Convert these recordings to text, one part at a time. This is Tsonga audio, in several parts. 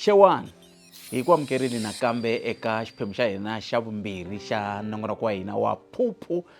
xewani hi ku amukerile nakambe eka xiphemu xa hina xa vumbirhi xa nongonoko wa hina wa phuphu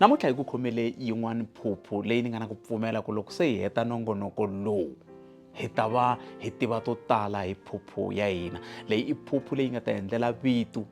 Namuntlha hi ku khomele yin'wana phuphu leyi ni nga na ku pfumela ku loko se hi heta nongonoko lowu hi ta va hi tiva to tala hi phuphu ya hina leyi i phuphu leyi nga ta endlela vitu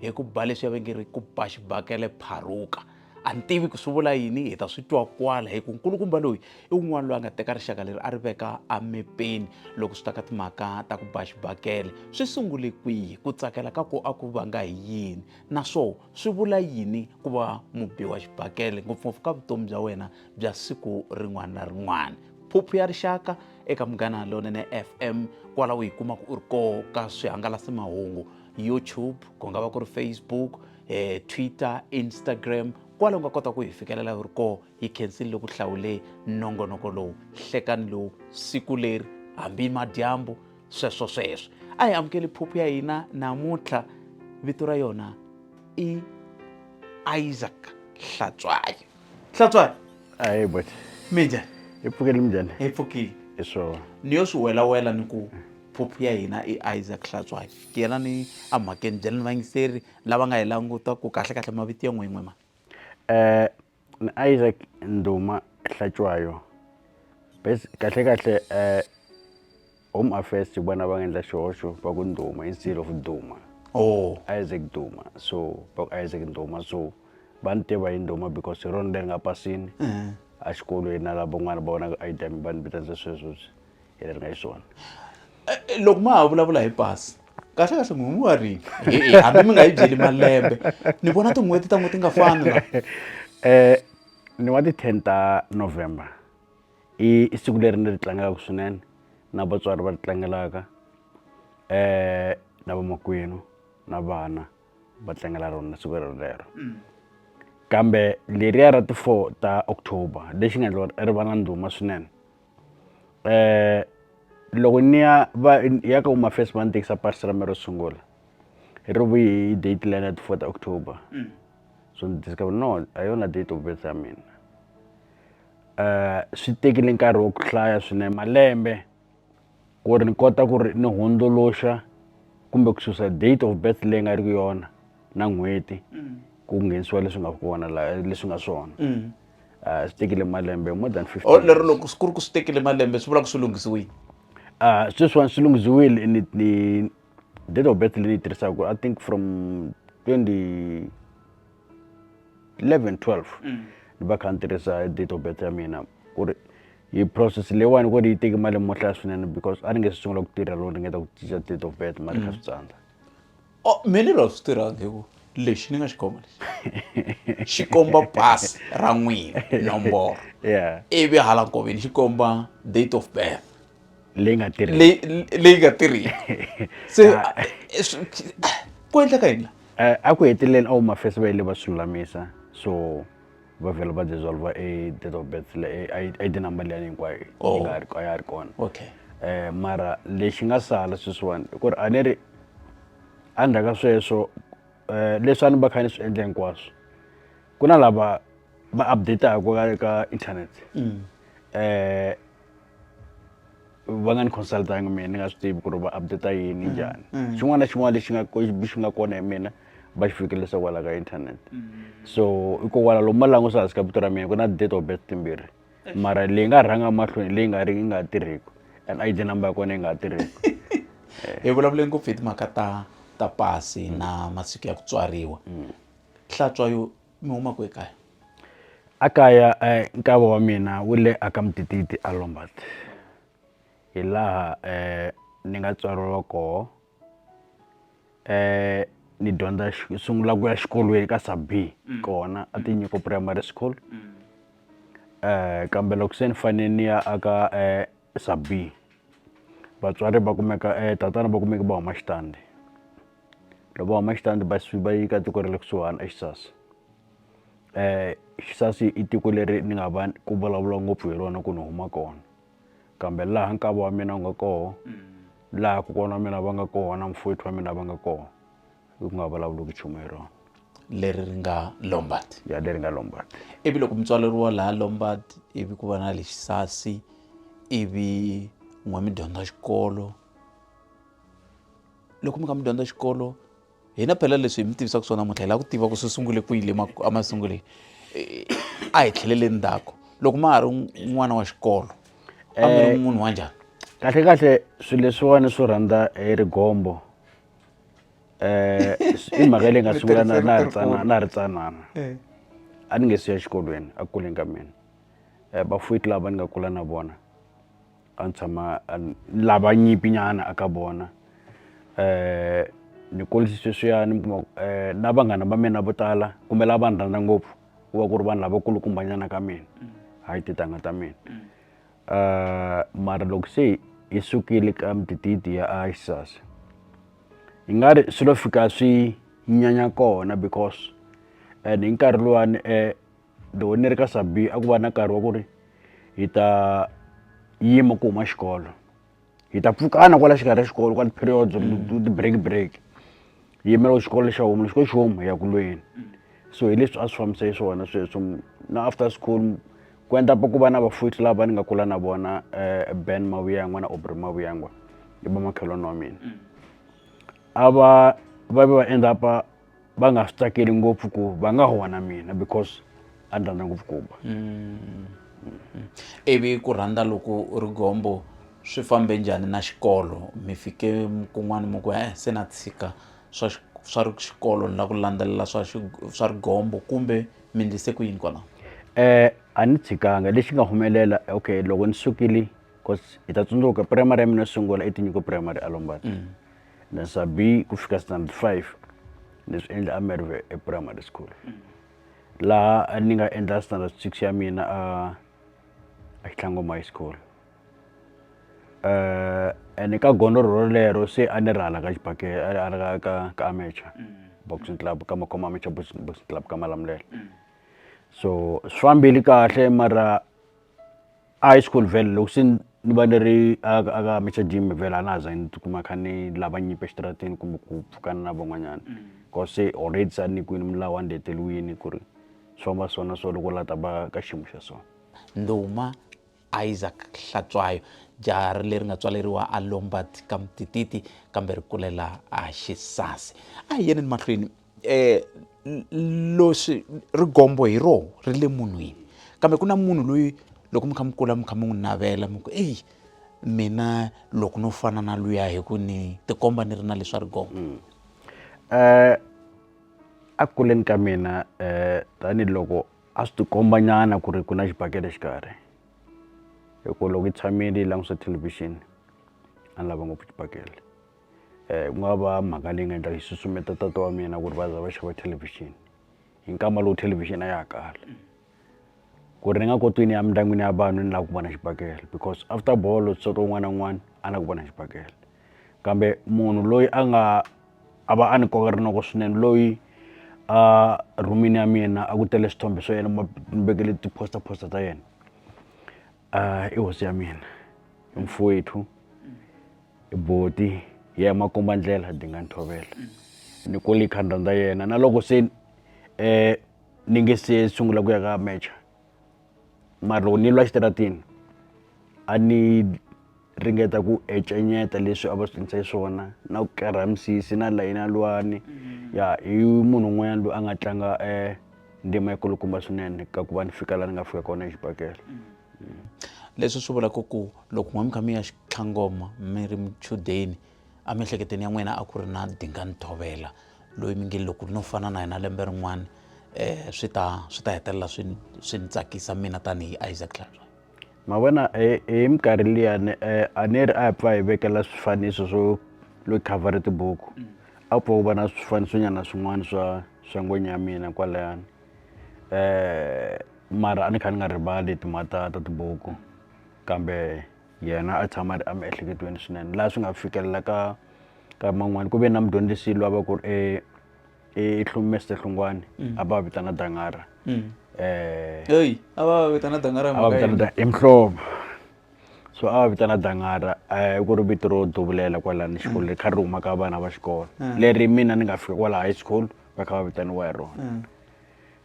hi ku ba leswi ya vengeri ku ba xibakele pharuka a ni tivi ku swi vula yini hi ta swi twa kwala hi ku nkulukumba loyi i un'wana loyi a nga teka rixaka leri a ri veka emepeni loko swi ta ka timhaka ta ku ba xibakele swi sungule kwihi ku tsakela ka ku a ku vanga hi yini naswona swi vula yini ku va mubiwa xibakele ngopfungopfu ka vutomi bya wena bya siku rin'wana na rin'wana phuphu ya rixaka eka munghana lonene fm kwala u yi kumaka u ri ko ka swihangalasamahungu youtube ku nga va ku ri facebook eh, twitter instagram kwala u nga kota ku hi fikelela u ri ko hi khensini loku hlawule nongonoko lowu hlekani lowu siku leri hambi madyambu sweswo sweswo a hi amukeli phuphu ya hina namuntlha vito ra yona i isaac hlatswayo hlatswayo ayi but mi njhani hi pfukeli minjhani hi pfukile hi swona ni yo swi welawela ni ku phuphu ya hina i isaac hlatswayo ti yela ni amhakeni byela ni vayingiseri lava nga hi languta ku kahlekahle mavito ya n'win'we ma um Ni Isaac Nduma Hlatshwayo base kahle kahle home affairs hi vona va nga endla xihoxo va ku Nduma instead of Duma oh Isaac Duma so va ku Isaac Nduma so va ni tiva hi Nduma because hi rona leri nga pasini a xikolweni na lava van'wana va vonaka I_D ya mina va ni vitanisa swesweswi hi leri nga xiswona loko ma ha vulavula hi pasi kahle kahle n'wi n'wi wa rini e-e hambi mi nga yi byeli malembe ni vona tin'hweti ta n'wi ti nga fani la um ni wa ti-ten ta november i i siku leri ni ri tlangelaka swinene na vatswari va ri tlangelaka um na vamakwenu na vana va tlangela rona siku relero mm. kambe leriya ra ti-four ta october lexi nga endla ri va na ndhuma swinene eh loko ni ya va ya ka huma first va ni tekisa pasi ra me ro sungula hi ri vuyi hi date leyi na ti fourth october so ni discover no a yona date of birth ya mina um swi tekile nkarhi wa ku hlaya swinene malembe ku ri ni kota ku ri ni hundzuluxa kumbe ku susa date of birth leyi nga ri ku yona na n'hweti mm. ku nghenisiwa leswi nga kona la leswi nga swona mm. ah, swi tekile malembe more than 50 oh, lero loko ku ri ku swi tekile malembe swi vula ku swi lunghisiwile ah, sweswiwani swi lunghisiwile ni ni date of birth leyi tirhisaka i think from 20 11 12 ni va kha ni tirhisa date of birth ya mina ku ri hi process leyiwani ku ri yi teki mali mo hlaya swinene because a ni nge swi sungula ku tirha loko ni ngeta ku cinca date of birth mali kha swi tsandza Oh, me ni lo swi tirhangi hi ku lexi ni nga xi khoma lexi xi komba pasi ra n'wina nomboro ivi hala nkoveni xi komba date of birth leyi nga leyi nga tirhiki se ah. ku endleka yini la eh, a ku heteleleni a wu mafesi va yile va swi lulamisa so va vhela va dissolve a date of birth le a ID number leyi hinkwayo yi oh. nga ri a ya ri kona okay eh mara lexi nga sala sweswiwani i ku ri a ni ri a ndzhaku ka sweswo um leswi a ni va kha ni swi endla hinkwaswo ku na lava va update-aka ka ka internet um va nga ni consult-angi mehe ni nga swi tivi ku ri va update yini mm, njhani mm. xin'wana na xin'wana lexi nga xi nga kona hi mina va xi fikelisa kwala ka internet mm. so hikokwalaho lomu malangusa hansi ka vito ra mina ku na date of birth timbirhi eh. mara leyi nga rhanga mahlweni leyi nga ri yi nga tirhiki and id number ya kona yi nga tirhiki eh. hi vulavule ngopfu hi timhaka ta ta pasi na masiku ya ku tswariwa hlatswa yo mi huma kwe kaya a kaya nkava wa mina wu le a ka mudididi a lombat hi laha ni nga tswariwa koho ni dyondza xi sungula ku ya xikolweni ka subie kona a ti nyiko primary school kambe loko se ni fane ni ya a ka . Subie vatswari va kumeka tatana va kumeka va huma xitandi loko va huma xitandi va suka va yi ka tiko ra le kusuhani eXisasi Xisasi i tiko leri ni nga va ku vulavuriwa ngopfu hi rona ku ni huma kona kambe laha nkava wa mina wu nga koho laha kokwana wa mina va nga kona mfowethu wa mina va nga kona. u nga vulavuliki nchumu hi rona leri ri nga lombard ya leri nga lombard ivi loko mutswari ri wa laha lombard ivi ku va na lexisasi ivi n'we mi dyondza xikolo loko mi kha mi dyondza xikolo hina phela leswi hi mi tivisaka swona muntlha hi lava ku tiva ku swi sungule ku yile emasunguleni a hi tlheleleni ndzhaku loko ma ha ri n'wana wa xikolo a mi ri eh, munhu wa njhani kahle kahle swilo leswiwani swo rhandza hi rigombo i mhaka ya leyi nga sungula na na ha ri tsanana na ha ri tsanana a ni nge se ya exikolweni a ku kuleni ka mina vafuweti lava ni nga kula na vona a ni tshama lava nyimpi nyana a ka vona ni kurise sweswiyani mi kuma ku na vanghana va mina vo tala kumbe lava va ni rhandza ngopfu ku va ku ri vanhu lava kulukumba nyana ka mina hayi tintangha ta mina. Uh, mara loko se hi sukile ka mitititi ya isas hi nga ri swi lo fika swi nyanya kona because and hi nkarhi luwani um eh, loko ni ri ka sabi a ku va na nkarhi wa ku ri hi ta yima ku huma xikolo hi ta pfukana kwala xikarhi ya xikolo kwala ti-period ti-break break hi yimela xikolo lexa homu xikolo xi homu hi ya kulweni so hi leswi a swi fambisa hi swona sweswo na after school ku endla ku va na vafuthi lava ni nga kula na vona eh, ben mavuyangwa na obry mavuyangwa i vamakhelwani wa mina a va va ve va end up va nga swi tsakeli ngopfu ku va nga huwa na mina because a ni rhandza ngopfu kuba mm. ivi ku rhandza loko u ri gombo swi fambe njhani na xikolo mi fike kun'wana mi ku e se na tshika swa swa ri xikolo ni la ku landzelela swa swa rigombo kumbe mi ndlise ku yini kona um eh, a ni tshikanga lexi nga humelela okay loko ni sukile bcause hi ta tsundzuka primary ya mina yo sungula i tinyiko primary a lombani mm. na sa B ku fika standard five ni swi endla a Merwe e primary school laha a ni nga endla standard six ya mina a a Xitlangoma high school eh ene ka gondzo rolero se a ni ri hala ka xibake a ri hala ka ka amateur boxing club ka makhoma amateur boxing club ka Malamulele so swi fambile kahle mara. high school vhele loko se ni va ni ri a ka a ka Mister Jim vhele a na ha zangi ni tikuma ni kha ni lava nyimpi exitarateni kumbe ku pfukana na van'wanyana cos se already se a ni nyikiwini milawu a ni leteriwini ku ri swi famba so na so loko u la ta va ka xiyimo xa so ndhuma Isaac Hlatshwayo jaha ri leri nga tswaleriwa a Lombard ka Mtititi kambe ri kulela a Xisasi a hi yeneni mahlweni eh loxi ri gombo hi roho ri le munhwini kambe ku na munhu loyi loko mi kha mi kula mi kha mi n'wi navela mi ku eyi mina loko no fana na luya hi ku ni tikomba ni ri na leswa ri gombo um mm. a ku kuleni ka mina um tanihiloko a swi tikomba nyana ku ri ku na xibakele xikarhi hi ku loko yi tshamile yi langutisa thelevhixini a ni lava ngopfu xibakele ku nga va mhaka leyi nga endla yi susumeta tata wa mina ku ri va za va xava thelevhixini hi nkama lowu thelevhixini a ya ha kala ku ri ni nga koti ku ni ya emindyangwini ya vanhu ni lava ku vona xibakele because after bolo so ka un'wana na un'wana a lava ku vona xibakele kambe munhu loyi a nga a va a ni koka rinoko swinene loyi a rhumini ya mina a ku tele swithombe swa yena ni vekele ti-poster poster ta yena. Ah, i hosi ya mina i mfowethu i boti ya emakomba ndlela dinga nthovela ni kole khandra ndza yena na loko se eh ni nge se sungula ku ya ka mecha mara loko ni lwa xitaratini a ni ringeta ku encenyeta leswi a va swi endlise swona na ku kerha misisi na layina lwani mm-hmm. ya i munhu un'wanyana loyi a nga tlanga um ndima yi kulukumba swinene ka ku va ni fika laha ni nga fika kona exibakele mm-hmm. mm. leswi swi vulaka ku loko n'we mi kha mi ya xitlhangoma mi ri muchudeni emiehleketweni ya n'wina a ku ri na dingani thovela loyi mi nge loko no fana na yena lembe rin'wana um swi ta swi ta hetelela swi swi ni tsakisa mina tanihi isaac tlhanzwa Ma vona hi hi minkarhi liya ni a ni ri a hi pfa hi vekela swifaniso swo lo khavhara tibuku a wu pfa wu va na swifaniso nyana swin'wana swa swa ngwenya ya mina kwalayani mara a ni kha ni nga rivali timhaka ta ta tibuku kambe yena a tshama a ri emiehleketweni swinene laha swi nga fikelela ka ka man'wani ku ve na mudyondzisi lwa va ku ri . i hlumeste hlungwani mm. a va vitana dangara mm. eh, eyi a va vitana dangara a va vitana i mihlovo so a va vitana dangara eh, ku ri vito ro duvulela kwalani xikolo leri kha ri huma ka vana va xikolo mm. leri mina ni nga fika kwala high school va kha va vitaniwa hi rona mm.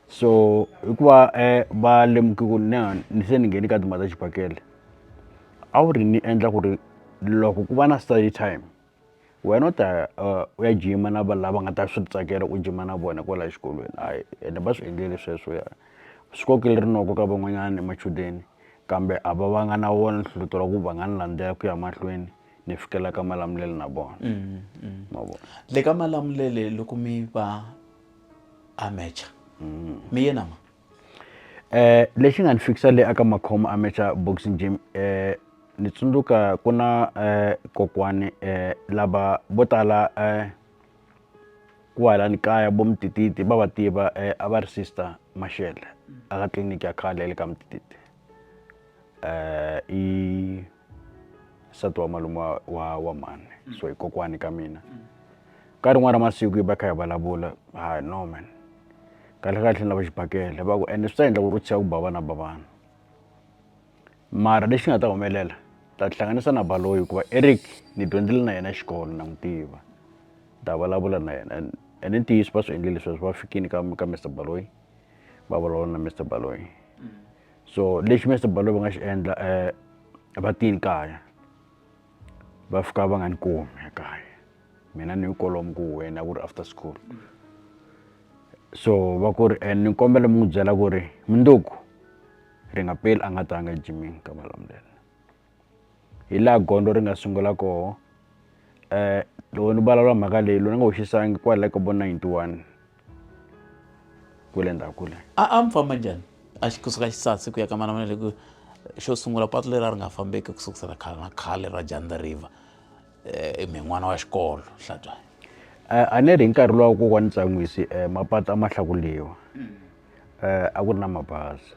so hikuva eh, va lemuki ku ni ni se ni ngheni ka timhaka ta xibakele a wu ri ni endla ku ri loko ku va na study time wena u ta ya u ya jima na vanhu lava nga ta swi tsakela ku jima na vona kwala xikolweni a ende va swi endlile sweswo ya swi kokele rinoko ka van'wanyana machudeni kambe a va va nga na wona nhlohlotelo wa ku va nga ni landzela ku ya mahlweni ni fikela ka malamulelo na vona ma vona le ka malamulele loko mi va a match mi yena ma Lexi nga ni fikisa le a ka Makhomo Amateur Boxing Gym ni tsundzuka ku na kokwani lava vo tala kwalani kaya vo Mtititi va va tiva a va ri sister Mashele a ka tliliniki ya khale ya le ka Mtititi . nsati wa malume wa wa, wa mhani mm. so hi kokwani ka mina mm. ka rin'wana ra masiku yi va kha hi vulavula ha no man kahle kahle ni lava xibakele va ku ende swi ta endla ku ri u tshiya ku ba vana ba vana mara lexi nga ta humelela ta tihlanganisa na baloyi hikuva eric ni dyondzile na yena xikolo na n'wi tiva ta vulavula na yena ene ntiyiso va swi endlile sweswo va fikile ka ka mr baloyi va vulavula na mr baloyi so lexi Mister Baloyi va nga xi endla va tini kaya va fika va nga ni kumi ekaya mina ni kolomo ku huhweni a ku ri after school so va ku ri ni kombela mi n'wi byela ku ri mundzuku Ringapeli a nga ta nga ejimini ka malamulele. hi laha gondzo ri nga sungula koho loko ni vulavula mhaka leyi loyi ni nga wu xisangi kwala ka vo ninety one kwele ndzhaku kwele a a mi famba njhani a xi kusuka xisasi ku ya ka manamana leku xo sungula patu leri a ri nga fambeki ku sukusela khale na khale ra janda river um mi n'wana wa xikolo hlatshwayo a ni ri hi nkarhi luwa wa kokwani tsan'wisi mapatu a ma hlakuriwa a ku ri na mabazi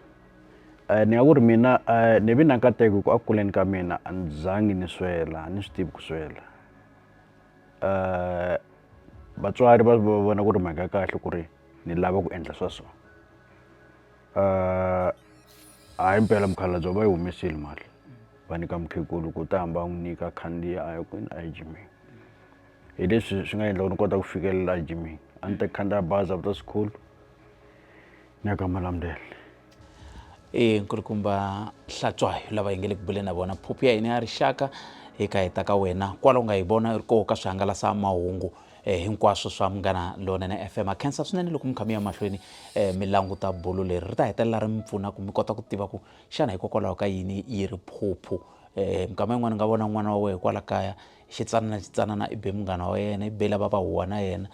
ni nga ku ri mina ni vi na nkateko hi ku a ku kuleni ka mina a ni zangi ni swela a ni swi tivi ku swela vatswari va vona ku ri mhaka ya kahle ku ri ni lava ku endla swa so ha impela mukhalabye va yi humesile mali va nyika mukhegula ku ta hamba a n'wi nyika a khandziya a ya kwini a ya jimini. hi leswi swi nga endla ku ni kota ku fikelela a jimini a ni ta khandziya bazi after school ni ya ka malamulele i nkulukumba hlatswayo lava hi nge le ku buleni na vona phuphu ya hina ya rixaka hi ka heta ka wena kwala u nga hi vona ri koho ka swihangalasamahungu eh, hinkwaswo swa munghana lonene fm a khensa swinene loko mi kha mi ya mahlweni eh, mi languta bulu leri ri ta hetelela ri mi pfuna ku mi kota ku tiva ku xana hikokwalaho ka yini yi ri phuphu eh, minkama yin'wana ni nga vona n'wana wa wehe kwala kaya Xitsanana Xitsanana i be munghana wa yena, i be lava va huwa na yena.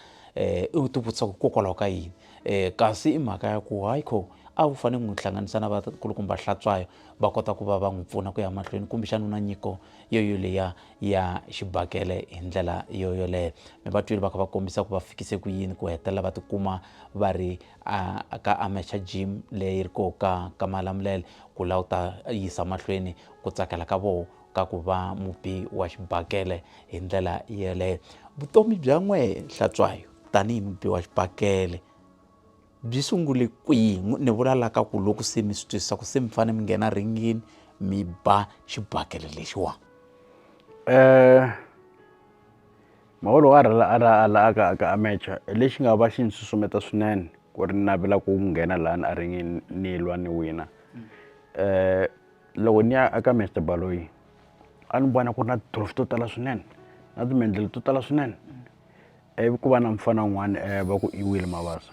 Um u tivutisa ku hikokwalaho ka yini? Um kasi i mhaka ya ku hayi kho a wu fanele ku n'wi hlanganisa na vakulukumba Hlatshwayo va kota ku va va n'wi pfuna ku ya mahlweni kumbexana u na nyiko yo yoleya ya xibakele hi ndlela yo yoleyo mi va twile va kha va kombisa ku va fikise ku yini ku hetelela va tikuma va ri ka amateur gym leyi ri koho ka ka malamulele ku la u ta yisa mahlweni ku tsakela ka vona ka ku va mubi wa xibakele hi ndlela yeleyo vutomi bya n'we hlatswayo tanihi mubi wa xibakele byi sungule kwihi ni vula la ka ku loko se mi swi twisisa ku se mi fanele mi nghena ringini mi ba xibakele lexiwa um eh, maholo a rhala a ra a la aka aka amecha lexi nga va xi ni susumeta swinene ku ri navela ku nghena lani a ringini ni lwa ni wina um loko ni ya eka Mister Baloyi a ni vona ku ri na tindlopfu to tala swinene na timendlele to tala swinene ivi ku va na mufana un'wana va ku i Willy Mabasa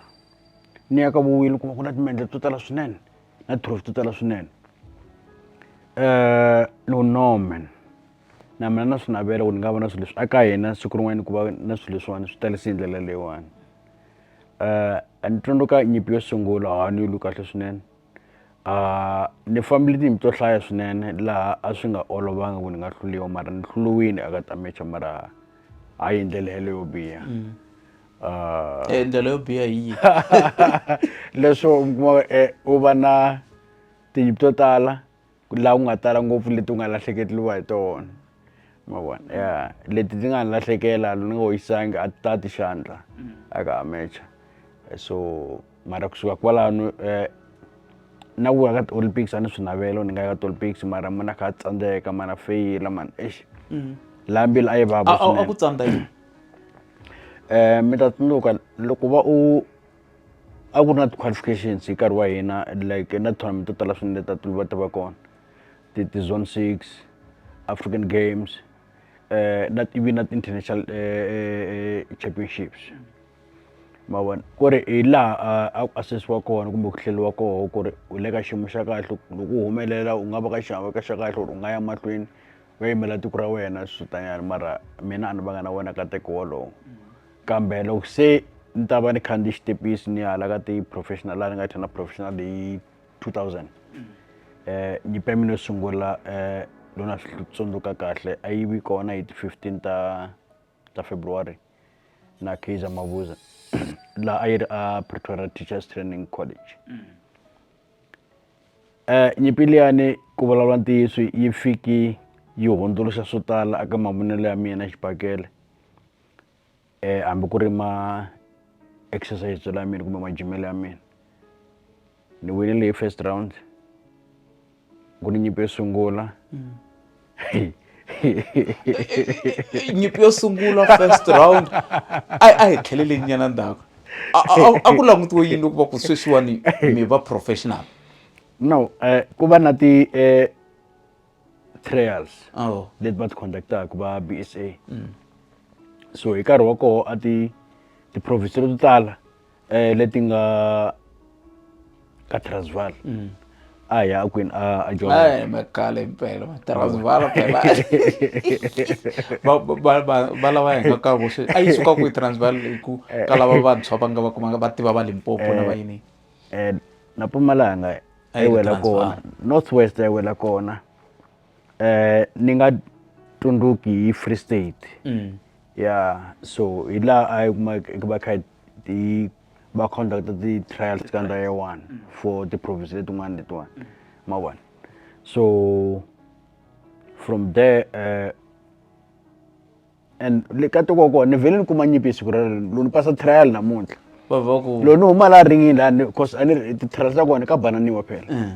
ni ya ka vu Willy ni kuma ku na timendlele to tala swinene na tindlopfu to tala swinene loko no man na mina na swi navela ku ni nga va na swilo leswi a ka hina siku rin'wana ku va na swilo leswiwani swi talisa hi ndlela leyiwani ni tsundzuka nyimpi yo sungula ha ni yi lwi kahle swinene. a ni fambile tiyindlu to hlaya swinene laha a swi nga olovanga ku ni nga hluliwa mara ni hluliwini aka ta mecha mara hayi ndlela yeleyo yo biha mm. eh, ndlela yo biha hi yihi leswo u kuma eh, u va na tiyindlu to tala la ku nga tala ngopfu leti u nga lahlekeriwa hi tona ma vona ya leti ti nga ni lahlekela ni nga yisanga a ti ta ti xandla a ka ha mecha so mara kusuka kwalano na ku ya ka ti-olympics a ni swi navela ni nga ya ka ti-olympics mara ma na kha a tsandzeka ma na feyila mani eish laha mbilu a yi vava a ku tsandza yini um mi ta tsundzuka loko va u a ku ri na ti-qualifications hi nkarhi wa hina like na tournament to tala swinene ta ti va ti va kona ti ti zone six african games eh na ivi na ti-international eh championships ma vona ku ri hi laha a ku assesiwa kona kumbe ku hleliwa koho ku ri u le ka xiyimo xa kahle loko u humelela u nga va ka xiave ka xa kahle ku ri u nga ya mahlweni va yimela tiko ra wena swi tanyana mara mina a ni vanga na wena nkateko wolowo kambe loko se ni ta va ni khandziye xitepisi ni ya hala ka ti-professional laha ni nga thana professional hi 2000 um eh, nyimpi ya mina yo sungula um eh, loko na swi tsundzuka kahle a yi vi kona hi ti-fifteen ta ta february na kaizer mavuza laha a yi ri a pretoria teachers training college um eh, nyimpi liyani ku vulavula ntiyiso yi fiki yi hundzuluxa swo tala aka mavonelo ya mina xibakele eh, hambi ku ri ma exercise la mina kumbe majimelo ya mina ni winile hi first round ku ni nyimpi yo sungula mm. nyimpi yo sungula first round a a hi tlhelele nyana ndzhaku a ku langutiwe yini loko va ku sweswiwani mi va professional no eh, ku va na ti eh, trials oh. leti va ti conductaka va bsa mm. so hi nkarhi wa koho a ti ti-province leto tala um leti nga ka transval mm. a hi ya kwini a a jomakale mpela transval phela va lava hi nga ka vuswe a yi suka kwihi transval hi ku ka lava vantshwa va nga va kumanga va tiva va limpopo na eh, va yini um na pumalanga A yi ri wela Transvaal. kona north west a yi wela kona eh ni nga tsundzuki hi free state Mm. ya so hi laha a yi kuma ku va kha yi- yi va conducta ti-trials ka ndhawu ya one for ti-province letin'wana letiwani ma vona so from there eh, and le ka tiko kona ni vhele ni kuma nyimpi hi siku relero lo ni pasa trial namuntlha va va ku lo ni huma laha ringini laha ni- cause a ni ri- ti-trial ta kona ka bananiwa phela Eh.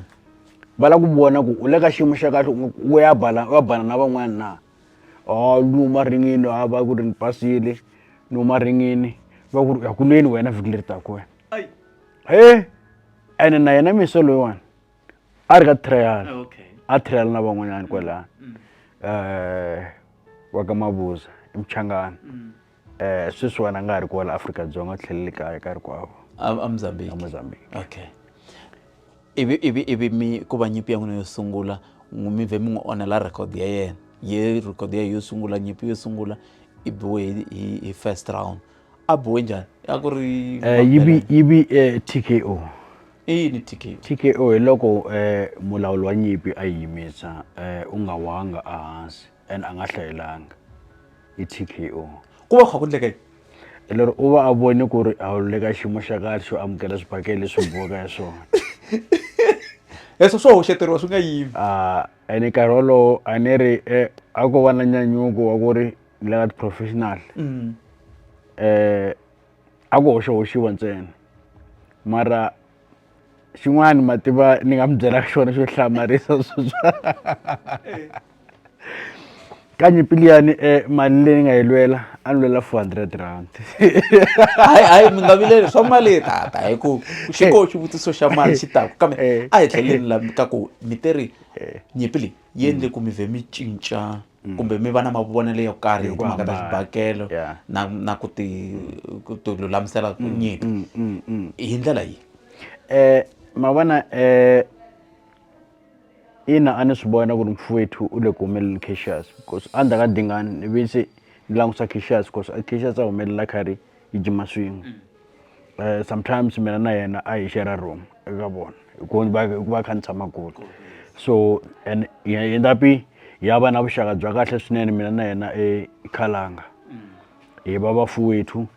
va lava ku vona ku u le ka xiyimo xa kahle u- u ya bala u ya bana na van'wana na o ni huma ringini a va ku ri ni pasile ni huma ringini va ku ri u ya kulweni wena vhiki leri taka wena he ene na yena mise loyiwani a ri ka trial Ah, okay. a trial na van'wanyana kwalaya Mm. eh wa ka mabuza emchangana Mm. eh sweswi wena a nga ha ri kwala afrika dzonga u tlhelele kaya nkarhi kwavo A- a mozambique emozambique okay ivi ivi ivi mi ku va nyimpi ya n'wina yo sungula n'wi- mi vhe mi n'wi onhela record ya yena ye record ya yo sungula nyimpi yo sungula i biwe hi, hi, hi first round a bohe njhani a ku ri Eh, yi vi yi vi eh, tko i yini tiki tko hi loko eh, mulawuli wa nyimpi a yi yimisa eh, u nga wanga ehansi and a nga hlayelanga i tko ku va kha ku ndleka yini hi lero u va a voni ku ri a wu le ka xiyimo xa kahle xo amukela swibakele leswi bohaka ya swona leswo swo hoxeteriwa swi nga yimi Ah, ene nkarhi wolowo a ni ri eh, a ko va na nyanyuko wa ku ri ni lava ti-professional um a ku hoxahoxiwa ntsena mara xin'wana ma tiva ni nga mi byelaka xona xo hlamarisa ka nyimpi liyani um mali leyi ni nga yi lwela a ni lwela four hundred rand hayi hayi mi nga vileli swa mali tata hi ku xi koho xivutiso xa mali xi taku kambe a hi tlheleni la ka ku mi te ri nyimpi leyi yi endle ku mi vhe mi cinca kumbe mi va na mavonelo yo karhi hi timhaka ta xibakele na na ku ti ku ti lulamisela ku nyika hi ndlela yihi ma vona ina a ni swi vona ku ri mfowethu u le ku humeleleni caxious because a ndzhaka dingani ni ve se ni langutisa caxious because a caxious a humelela karhi yi jima swin'we um sometimes mina na yena a hi shera room eka vona hikuva kha ni tshama kule so and yendapi ya va na vuxaka bya kahle swinene mina na yena ekhalanga mm. hi va vafuwethu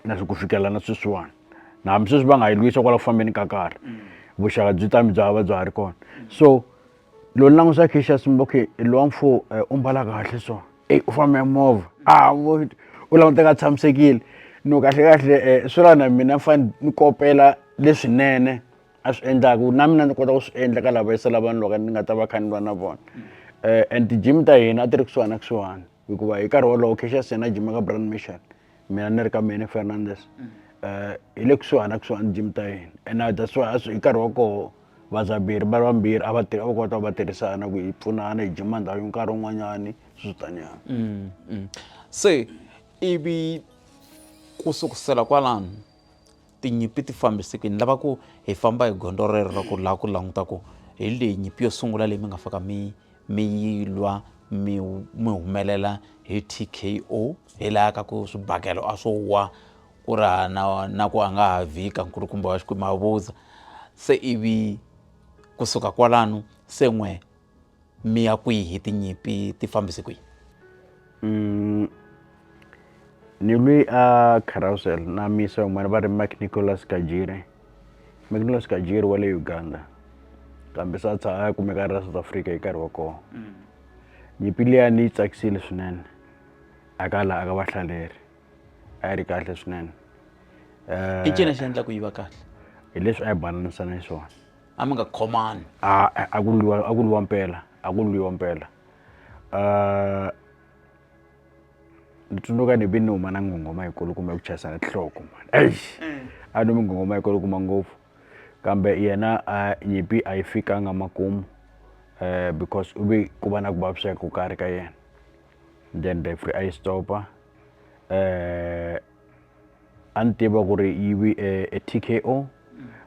na swi ku fikela na sweswiwani na hambi sweswi va nga yi lwisa kwala ku fambeni ka karhi mm. vuxaka byi tami bya va bya ha ri kona so loko ni langusa kisha simba okay lowa mfo eh, u mbala kahle so eyi u fambe movha a u languteka a tshamisekile no kahle kahle eh, swi la na mina fane ni kopela leswinene a swi endlaka na mina ni kota ku swi endla ka lava yisela vanhu loko ni nga ta va kha ni va na vona eh, and ti-gym ta hina a ti ri kusuhani na kusuhani hikuva hi nkarhi wolowo cacious yena jima ka brand mission mina ni ri ka mene fernandes um hi le kusuhani na kusuhani jim ta hina and that's why hi nkarhi wa koho Vadzaberi va ri vambirhi a va tirha va kota va tirhisana ku hi pfunana hi jima ndhawu yo nkarhi wun'wanyani swi tanyana mm, mm. se ivi ku sukusela kwalano tinyimpi ti fambise ku ni lava ku hi famba hi gondzo rero ra ku laha ku languta ku hi leyi nyimpi yo sungula leyi mi nga faka mi mi yi lwa mi mi humelela hi t k o hi laha ka ku swibakelo a swo wa ku raha na, na ku a nga ha vika nkulukumba wa xikwembu a vutsa se ivi kusuka kwalano se n'we mi ya kwihi tinyimpi ti fambise kwihi mm, ni lwi a carousel na misa yin'wana va ri mac nicolas kajire mac nicolas kajire wa le uganda kambe sa tsha a kumeka ra south africa hi nkarhi wa kona mm. nyimpi liya ni yi tsakisile swinene aka laha aka vahlaleri a yi ri kahle swinene i ncini lexi endlaku yi va kahle hi leswi a yi bananisana xiswona a mi nga khomani a a ku lwiwa a ku lwiwa mpela a ku lwiwa mpela um ni tsundzuka ni vi ni huma na nghonghoma yikulu kumbe ku chayisana tinhloko mani eish a ni mi nghonghoma yikulu kuma ngopfu kambe yena a nyimpi a yi fikanga makumu um because u ve ku va na ku vaviseka ku karhi ka yena then referee a yi stopa eh a ni tiva ku ri yi vi e e TKO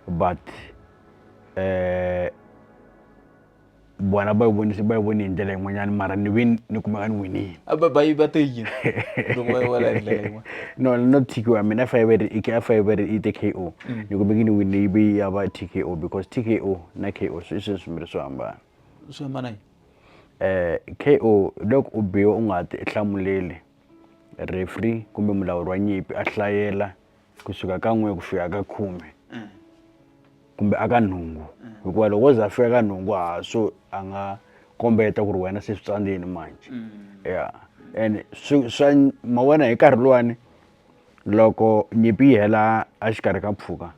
but eh vona va yi vonise va yi voni hi ndlela yin'wanyana mara ni vi ni kumeka ni winile a ba ba yi ba te yini loko va yi vona hi ndlela yin'wana no no TKO mina a fa yi ve ri i- a fa yi ve ri i TKO ni kumeke ni winile yi vi ya va TKO because TKO na KO swi i swilo swimbirhi swo hambana swi hambana yini K_O hi loko u biwa u nga ha ti hlamuleli referee kumbe mulawuri wa nyimpi a hlayela kusuka ka n'we ku fika ka khume kumbe a ka nhungu hikuva loko wo ze a fika ka nhungu ha so a nga kombeta ku ri wena se swi tsandzeni manjhe ya ene swi swa ma wena hi nkarhi luwani loko nyimpi yi hela a xikarhi ka mpfhuka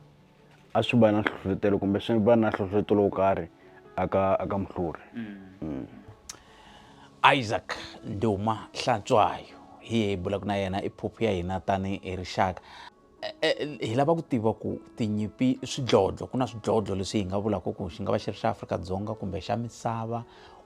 a swi va na nhlohlotelo kumbe swi va na nhlohlotelo wo karhi aka aka muhluri mm. isaac nduma hlantswayo hi hi bulaka na yena i phuphu ya hina tani hi rixaka Eh, eh, hi lava ku tiva ku tinyimpi swidlodlo ku na swidlodlo leswi hi nga vulaka ku xi nga va xi ri xa afrika-dzonga kumbe xa misava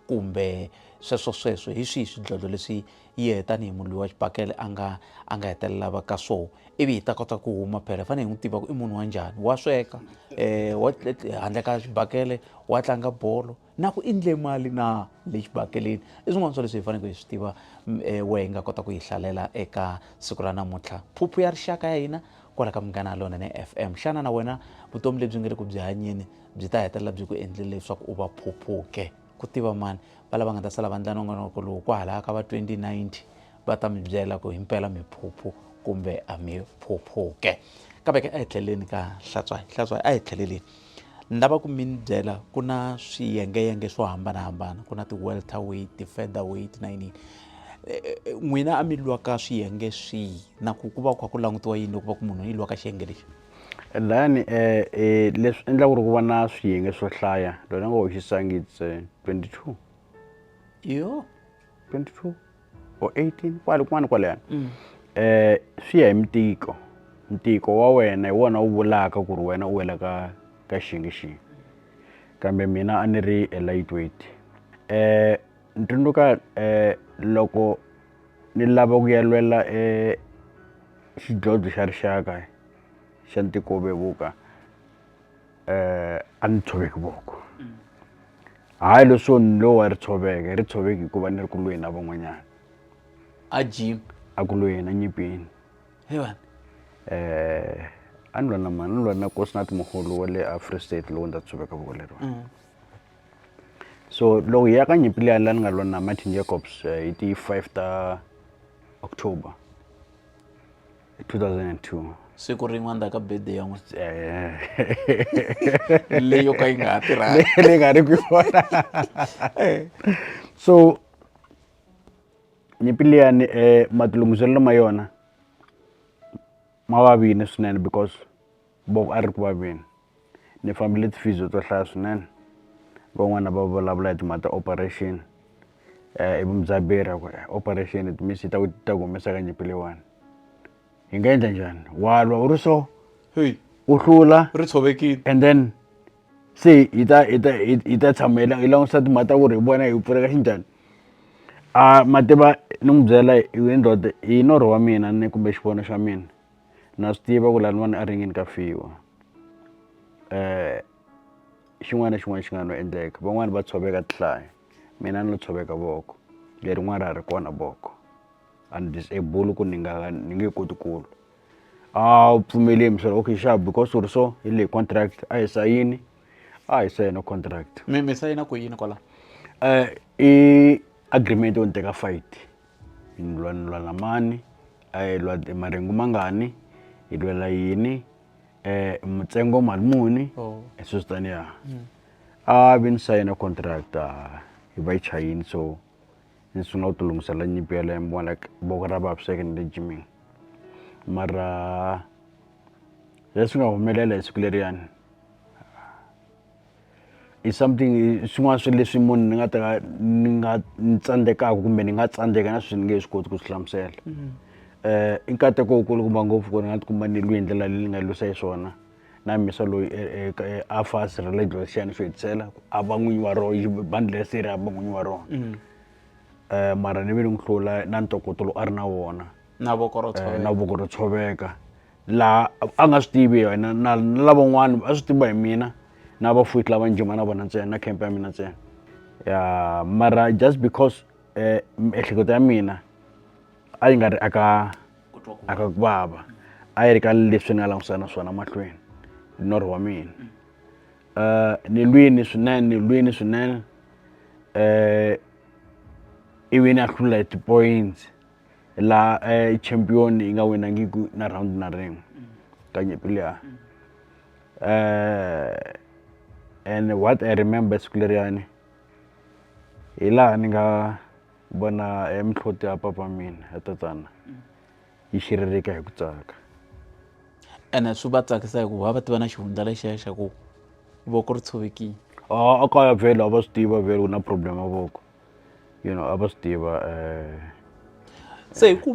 kumbe sweswo sweswo hi swihi swidlodlo leswi hi yehe tanihi munhu loyi wa xibakele a nga a nga hetelela va ka so ivi hi ta kota ku huma phela fanele hi n'wi tiva ku i munhu wa njhani wa sweka um wa handle ka xibakele wa tlanga bolo na ku endle mali na le xibakeleni i swin'wana swa leswi hi faneleke hi swi tiva um wehe hi nga kota ku yi hlalela eka siku ra namuntlha phuphu ya rixaka ya hina kwala ka munghana lona ne f m xana na wena vutomi lebyi nga le ku byi hanyeni byi ta hetelela byi ku endlile leswaku u va phuphuke ku tiva mani va lava nga ta sala vandla nongonoko lowu kwahalaya ka va 2090 va ta mi byela ku himpela mi phuphu kumbe a mi phuphuke kambe ke a hi tlheleleni ka hlatswayi hlatswayi a hi tlheleleni ni lava ku mi ni byela ku na swiyengeyenge swo hambanahambana ku na ti-welter weight ti-feather weight na yiniyini n'wina a mi lwa ka swiyenge swihi na ku ku va ku kha ku langutiwa yini loko va ku munhu i lwa ka xiyenge lexi Layani leswi endla ku ri ku va na swiyenge swo hlaya loyi a nga hoxisangi it's 22 yo 22 or 18 kwale kun'wana kwalayani um swi ya hi mtiko mtiko wa wena hi wona wu vulaka ku ri wena u wela ka ka xiyenge xihi kambe mina a ni ri e lightweight um ni tsundzuka um loko ni lava ku ya lwela e xidlodlo xa rixaka xa ntiko wo vevuka um a ni tshoveki voko hayi leswo ni lowu a ri tshoveke ri tshoveki hikuva ni ri ku lweni na van'wanyana a jim a ku lweni enyimpini hevan um a ni lwa na mani ni lwa na kosinati moholo wa le afree state lowu ndza tshoveka voko leriwani mm. so loko hi ya ka nyimpi liya la ni nga lwa na martin jacobs eh, hi ti 5 ta october 2002 siku rin'wana ta ka bede ya n'wina eh. leyo ka yi nga ha tirhangi leyi nga ri ku yona so nyimpi liyani um eh, matilunghiselelo ma yona ma vavini swinene because boko a ri ku vaveni ni fambile ti-physio to hlaya swinene van'wana va vulavula hi timhaka ta operation i mudzaberi a ku operation it means yi ta ku yi ta ku humesa ka nyimpi leyiwani hi nga endla njhani wa lwa u ri so heyi u hlula ri tshovekile and then se hi ta hi ta hi hi ta tshama hi la- hi langutisa timhaka ta ku ri hi vona hi pfuleka xinjhani a mativa ni n'wi byela hi we ndoda hi norho wa mina ni kumbe xivono xa mina na swi tiva ku laniwani a ringini ka fiwa xin'wana na xin'wana xi nga no endleka van'wani va tshoveka tihlayo mina ni lo tshoveka voko lerin'wani ra ha ri kona voko a ni disable ku ni nga ni nge koti ku lwa a wu pfumeli hi muhlovo okay sharp because u ri so hi leyi contract a hi sayini a hi sayina contract mi mi sayina ku yini kwala i agreement yo ni teka fight Hi lwa ni lwela mani hi lwa hi maringu mangani hi lwela yini um mutsengo mali muni oh. e sweswi taniya mm. a vi ni sayina contract hi va yi chayini so ni sungula ku tilungisela nyimpi ya lembe wa like voko ra vaviseke ni le jimini mara leswi nga humelela hi siku leriyani i something i swin'wana swa leswi munhu ni nga ta ka ni nga ni tsandzekaka kumbe ni nga tsandzeka na swi ni nge swi koti ku swi hlamusela um i nkateko wukulu kumba ngopfu ku ni nga tikuma ni lwi hi ndlela leyi ni nga lwisa hi swona na mhisa loyi a fa a sirhelele dlodlo xiyani xo hetisela ku a va n'winyi wa roho yi bandle se ri a va n'winyi wa rona um mara ni ve ni n'wi hlula na ntokoto lowu a ri na wona na voko ro na voko ro tshoveka laha a nga swi tivi hi wena na lavan'wana a swi tiviwa hi mina na vafuthi lava njhima na vona ntsena na camp ya mina ntsena ya mara just because eh, miehleketo ya mina a yi nga ri aka aka ku vava a yi ri ka leswi ni nga langusana na swona mahlweni norho wa mina um ni lwini swinene ni lwini swinene um ivi ni a hlula hi ti-points la eh, champion yi nga winangiku na round na rin'we ka nyimpi liya eh, and what i remember siku leriyani hi laha ni nga vona eh, mihloti ya papa mina ya tatana yi xiririka hi ku tsaka ene swi va tsakisa hikuva va tiva na xihundla lexiya xa ku voko ri tshovekile a a kaya vhele a va swi tiva vhele ku na problem ya voko you know a va swi tiva se hi ku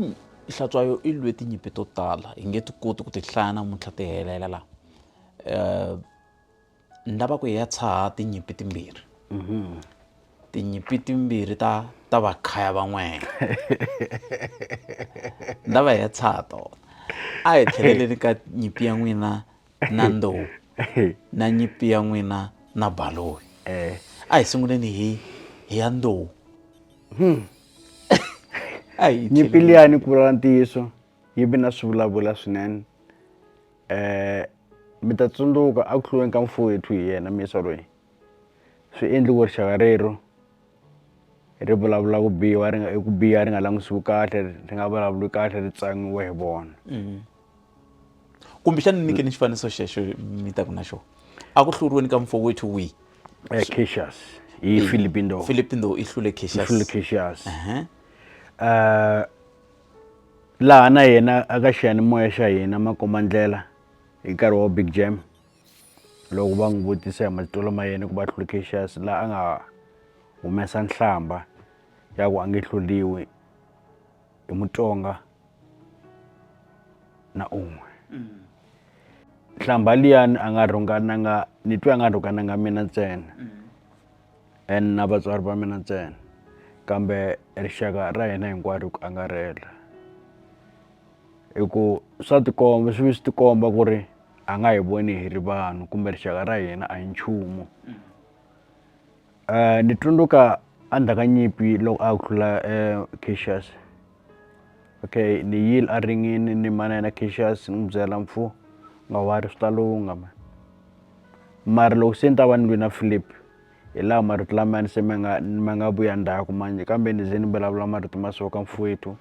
hlatswayo i lwe tinyimpi to tala hi nge ti koti ku ti hlaya namuntlha ti helela la um ni lava ku hi ya tshaha tinyimpi timbirhi mm-hmm. tinyimpi timbirhi ta ta vakhaya van'wana ni lava hi ya tshaha tona a hi tlheleleni ka nyimpi ya n'wina na ndowu na nyipi ya n'wina na baloyi eh. a hi sunguleni hi hi ya ndowu hmm. nyipi liyani ku vulavula ntiyiso yi vi na swivulavula swinene um mi ta tsundzuka a ku hluriweni ka mfuwethu hi yena misa loyi swi endli ku rixaka rero ri vulavula ku biwa ri nga ku biha ri nga langutisiwi kahle ri nga vulavuli kahle ri tsangiwe hi vona mm-hmm. kumbexani ni nyike ni xifaniso xexo mi taku na xona a ku hluriweni ka mfowethu wihi eh, cacius hi philipindo philipindo i hlule cacius hlule cacius uh-huh. eh, laha na yena aka xiyanimoya xa hina makomandlela hi nkarhi wa big jam loko va n'wi vutisa hi matitwelo ma yena ku va Cassius la a nga humesa nhlamba ya ku a nge hluriwi hi Mutsonga na un'we nhlamba liyani a nga rhungananga ni twe a nga rhungananga mina ntsena and na vatswari va mina ntsena kambe rixaka ra hina hinkwaro ku angarhela. hi ku swa tikomba swi ve swi tikomba ku ri a nga hi voni hi ri vanhu kumbe rixaka ra hina a hi nchumu um ni tsundzuka endzhaku ka nyimpi loko a hlula um Cassius okay ni yile a ringini ni ma na yena Cassius ni n'wi byela mfo nga wa ri swi ta lungha mhani mara loko se ni ta va ni lwe na Phillip hi laha marito lamaya ni se ma nga ma nga vuya ndzhaku manjhe kambe ni ze ni vulavula marito ma so ka mfowethu.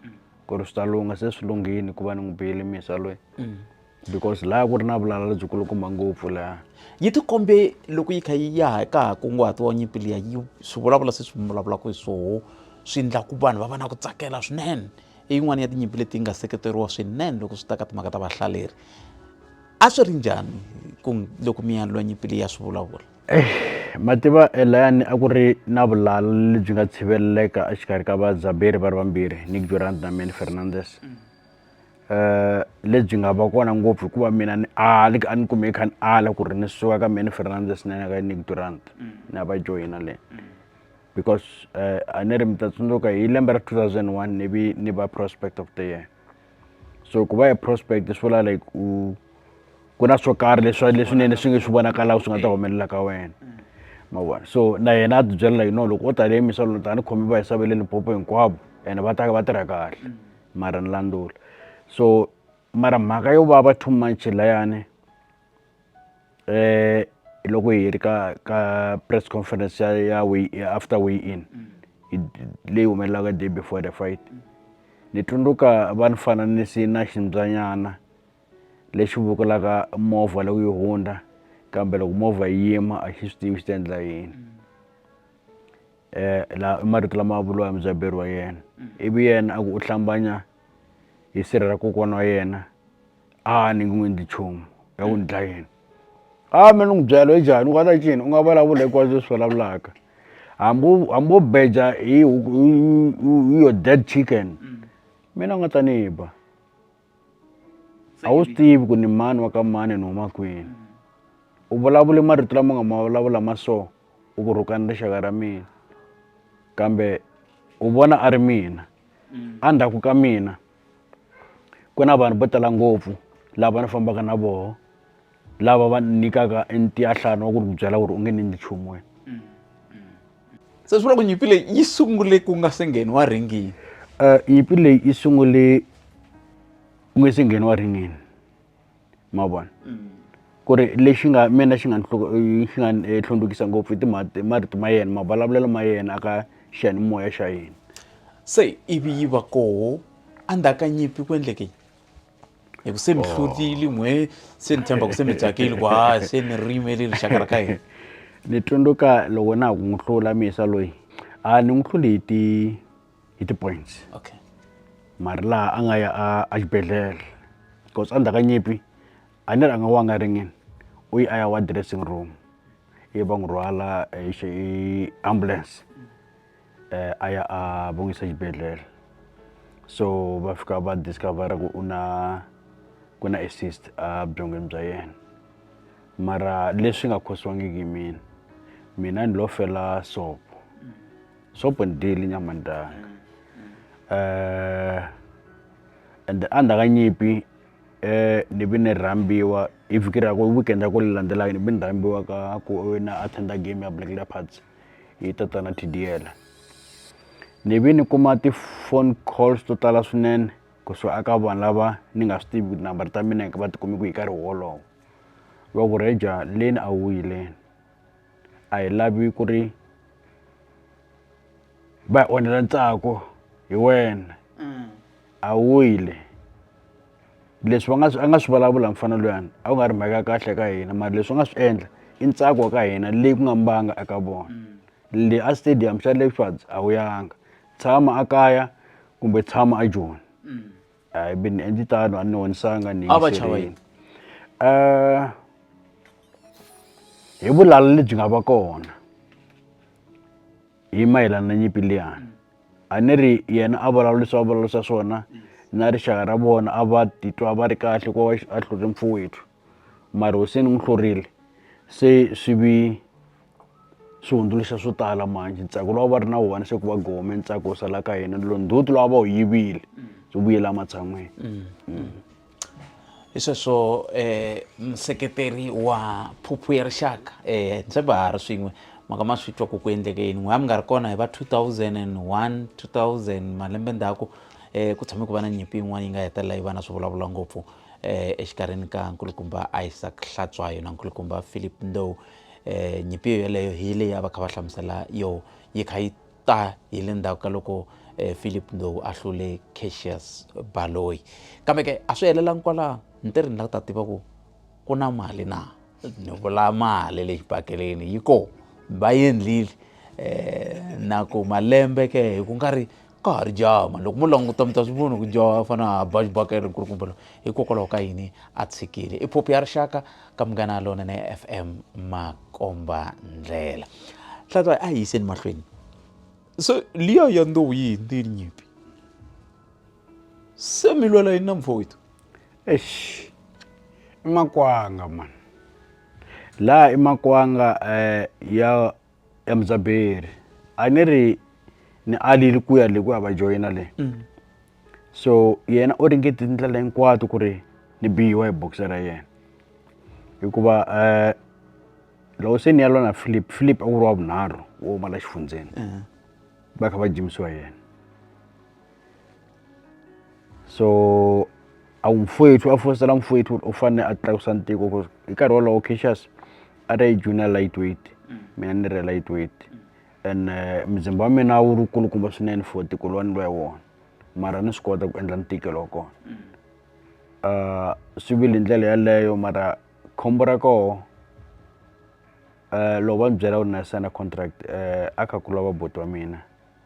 ku ri swi ta lungha se swi lunghile ku va ni n'wi biyile misa loyi because laha ku ri na vulala lebyikulukumba ngopfu laha yi tikombe loko yi kha yi ya ka ha kunguhatiwa nyimpi liya yi swi vulavula se swi vulavulaka hi swoho swi endla ku vanhu va va na ku tsakela swinene i yin'wana ya tinyimpi leti nga seketeriwa swinene loko swi ta ka timhaka ta vahlaleri a swi ri njhani ku loko mi ya lwa nyimpi leyi ya swi vulavula mativa layani a ku ri na vulala lebyi nga tshiveleleka exikarhi ka vadzaberi va ri vambirhi nick durant na man fernandes um lebyi nga va kona ngopfu hikuva mina ni ali a ni kumeki kha ni ala ku ri ni suka ka man fernandes na ka nick durant na va joyina le because um a ni ri mi ta tsundzuka hi lembe ra two thousand one ni vi ni va prospect of the year so ku va hi prospect swi vula like u ku na swo karhi leswi leswinene swi nge swi vonakalaka swi nga ta humelela ka wena ma vona so na yena a tibyela like no loko o tale emisaveni tani khomi va hisave le lipopo hinkwavo ene va taka va tirha kahle mara ni landzula so mara mhaka yo va va two months layani eh loko hi ri ka ka press conference ya ya way after way in leyi humelelaka day before the fight ni tsundzuka va ni fananisi na ximbyanyana lexi vukulaka movha loko yi hundza kambe loko movha yi yima a xi swi tivi xi ta endla yini eh la i marito lama vuriwa hi mudzaberi wa yena ivi yena a ku u hlambanya hi sirha ra kokwana wa yena a ni nge endli nchumu ya ku ni dlaya yini a me ni n'wi byela i njhani u nga ta ncini u nga vulavula hinkwaswo leswi vulavulaka hambi u hambi wo beja hi huku hi hi yo dead chicken mina u nga ta ni ba a wu swi tivi ku ni mani wa ka mani ni huma kwini u vulavule marito lama nga ma vulavula ma so u ku rhukana ni rixaka ra mina kambe u vona a ri mina a ndzhaku ka mina. ku na vanhu vo tala ngopfu lava ni fambaka na voho lava va ni nyikaka e ntiyahlana wa ku ri ku byela ku ri u nge ni endli nchumu wena se swi vula ku nyimpi leyi yi sungule ku nga se ngheniwa ringini um nyimpi leyi yi sungule ku nga se ngheniwa ringini ma vona ku ri lexi nga mina xi nga ni xi nga ni hlundzukisa ngopfu i timhati marito ma yena mavulavulelo ma yena a ka xiyanimoya xa yena se ivi yi va koho endzhaku ka nyimpi ku endleke hi ku se mi hlurile n'we se ni tshemba ku se mi tsakile ku ha se ni ri yimele rixaka ra ka hina ni tsundzuka loko na ha ku n'wi hlula misa loyi a ni n'wi hluli hi ti hi ti-points okay mara laha a nga ya a a xibedhlele cause a ndzhaku ka nyimpi a ni ri a nga wa nga ringini u yi a ya wa dressing room ivi va n'wi rhwala hi xi hi ambulance a ya a va n'wi yisa xibedhlele so va fika va discover-a ku u na ku na a cyst a byongweni bya yena mara leswi nga khotsiwangiki hi mina mina ni lo fela sopo so open deal nyamandanga eh and a ndzi nga nyipi eh ni vi ni rhambiwa hi vhiki ra ku weekend ya ku landzelaka ni vi ni rhambiwa ka ku na attenda game ya black leopards yi ta ta na tdl ni vi ni kuma ti-phone calls to tala swinene kusuka aka vanhu lava ni nga swi tivi number ta mina va tikumi ku hi karhi wolowo va ku reja leni a wuyileni a hi lavi ku ri va hi onhela ntsako hi wena a wile leswi va nga swi a nga swi vulavula mufana luyani a ku nga ri mhaka ya kahle ka hina mara leswi u nga swi endla i ntsako wa ka hina leyi ku nga mbanga eka vona le a stadium xa Leopards a wu yanga tshama a kaya kumbe tshama a Joni. hayi be ni endli tano a ni honisanga ni A va chava yingiserile. Eh, hi vulala lebyi nga va kona hi mayelana na nyimpi liyani a ni ri yena a vulavurisa va vulavurisa swona na rixaka ra vona a va titwa va ri kahle ku va a hluri mpfowethu mara hosi ni n'wi hlurile se swi vi swi hundzuluxa swo tala manjhe ntsako lowu a va ri na wona se ku va gome ntsako wu sala ka hina lo ndzhuti lowu a va wu yivile byi vuyela ematshan'wini hi sweswo um museketeri wa phuphu ya rixaka um se va ha ri swin'we maka ma swi twa ku ku endleke yini n'we a mi nga ri kona hi va 2001 2000 malembe ndzhaku um ku tshame ku va na nyimpi yin'wana yi nga hetelela yi va na swi vulavula ngopfu um exikarhini ka nkulukumba isaac hlatswayo na nkulukumba philip ndow Um nyimpi yoyeleyo hi leyi a va kha va hlamusela yoho yi kha yi ta hi le ndzhaku ka loko um Phillip Ndlovu a hlule Cassius Baloyi kambe ke a swi helelangi kwalano ni te ri ni la ku ta tiva ku ku na mali na ni vula mali le xipakeleni yi kona va yendlile um na ku malembe ke hi ku nga ri. ka ha ri jaha mani loko mo languta mi ta swi vona ku jaha a fana a ba xibaka ri nkulukumba lowu hikokwalaho ka yini a tshikile i phophi ya rixaka ka munghana lona na f m makomba ndlela hlatwayi a hi yiseni mahlweni so liya ya ndowu yi hindzile nyimpi se mi lwela yini na mfowethu eish i makwanga mani laha i makwanga um ya ya mudzaberi a ni ri ni alile ku ya le ku ya va joyina le mm. so yena u ringete tindlela hinkwato ku ri ni biyiwa hi boxe ra yena hikuva um loko se ni ya lona philip philip a ku ri wa vunharhu wo humala xifundzeni eh. va kha va jimisiwa yena so a wu mfowethu a fositela mfowethu u fanele a tlakusa ntiko ku hi nkarhi wolowo cacious a ri junior light weight mina ni ri light weight and eh, muzimba wa mina wu ri kulukumba swinene for tiko lowa ni lwa wona mara ni swi kota ku endla ntikelo wa kona uh, swi vile ndlela yaleyo mara khombo ra koho um loko va ni byela ku ri na sena contract um a kha ku lava boti wa mina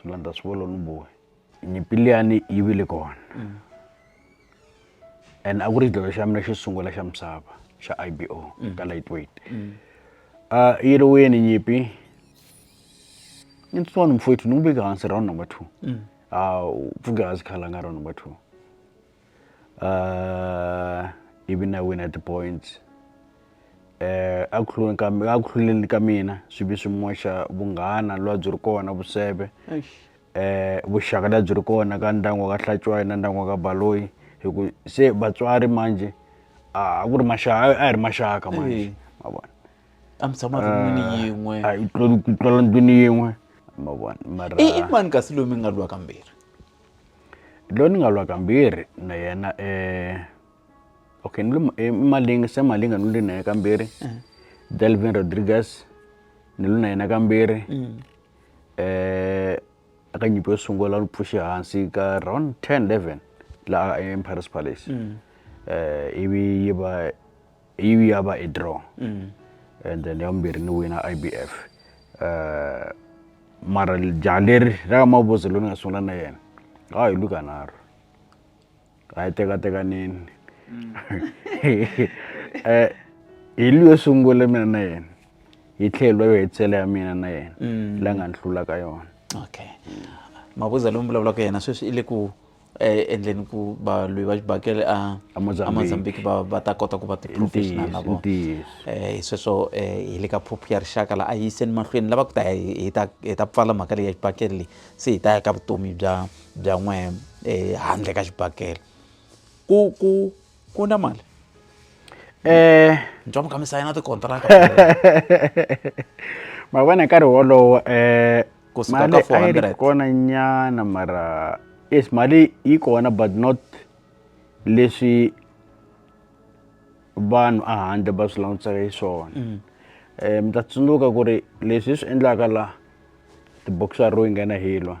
swi landza swi volo ni bohi nyimpi liyani yi vile kona and a ku ri xidlodlo xa mina xo sungula xa misava xa i b o ka lightweight a yi ri wini nyimpi ni ntsona mfowethu ni n'wi veke hansi round number two a u pfuke hansi khalanga round number two uh, ivi na wina ti-points eh a ku hluleni ka a ku hluleni ka mina swi vi swi moxa vunghana lwa byi ri kona vuseve eh vuxaka lebyi ri kona ka ndyangu wa ka Hlatshwayo na ndyangu wa ka Baloyi hi ku se vatswari manje a ku ri maxaka a hi ri maxaka manje ma vona a mi tshama ndlwini ah, yin'we a yi tlula ndlwini yin'we ma vona mara i mani kasi loyi mi nga lwa kambirhi loyi ni nga lwa kambirhi na yena okay ni lwe i Malinga Sam Malinga ni lwe na yena kambirhi Delvin Rodriguez ni lwe na yena kambirhi eka nyimpi yo sungula ni pfuxe hansi ka round ten eleven laha ePirates Palace ivi yi va. Yivi ya va i draw mm. and then ya vumbirhi ni wina IBF uh, eh, mara jaha leri ra ka mavuzo loyi ni nga sungula na yena a hi luka nharhu a yi tekatekanini mm. eh, hi luyo sungule mina na yena hi tlhelo yo hetisela ya mina na yena mm. la nga ni hlulaka yona okay mavuza lomu vulavulaka yena sweswi i le ku eh, endleni ku valwi va xibakele a amozambiki va va ta kota ku va ti-professional na vona um hi sweswo um hi le ka phuphu ya rixaka laha a hi yiseni mahlweni lava ku ta hi ta hi ta pfala mhaka leyi ya xibakele leyi se hi ta ya ka vutomi bya bya n'we um handle ka xibakele ku ku ku na mali um ntswamo ka misayina tikontraka ma vona hi nkarhi wolowo um kusuka mali ka a yi ri 400 kona nyana mara yes mali yi kona but not leswi vanhu a handle va swi langutisaka hi swona um mi ta tsundzuka ku ri leswi hi swi endlaka la tiboxer ro yi nghena hi lwa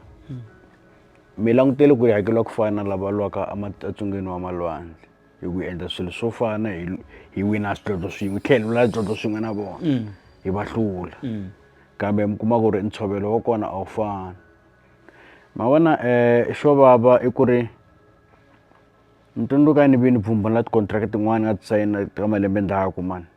mi langutele ku yi hakeriwa ku fana na lava lwaka ematsungeni wa malwandle hi ku endla swilo swo fana hi hi wina swidlodlo swin'we hi tlhela hi wina swidlodlo swin'we na vona mm. hi va hlula mm. kambe mi kuma ku ri ntshovelo wa kona a wu fani ma vona um xo vava i ku ri ni tsundzuka ni vi ni pfumbula tikontraka tin'wana nga ti sayina ka malembe ndzhaku mani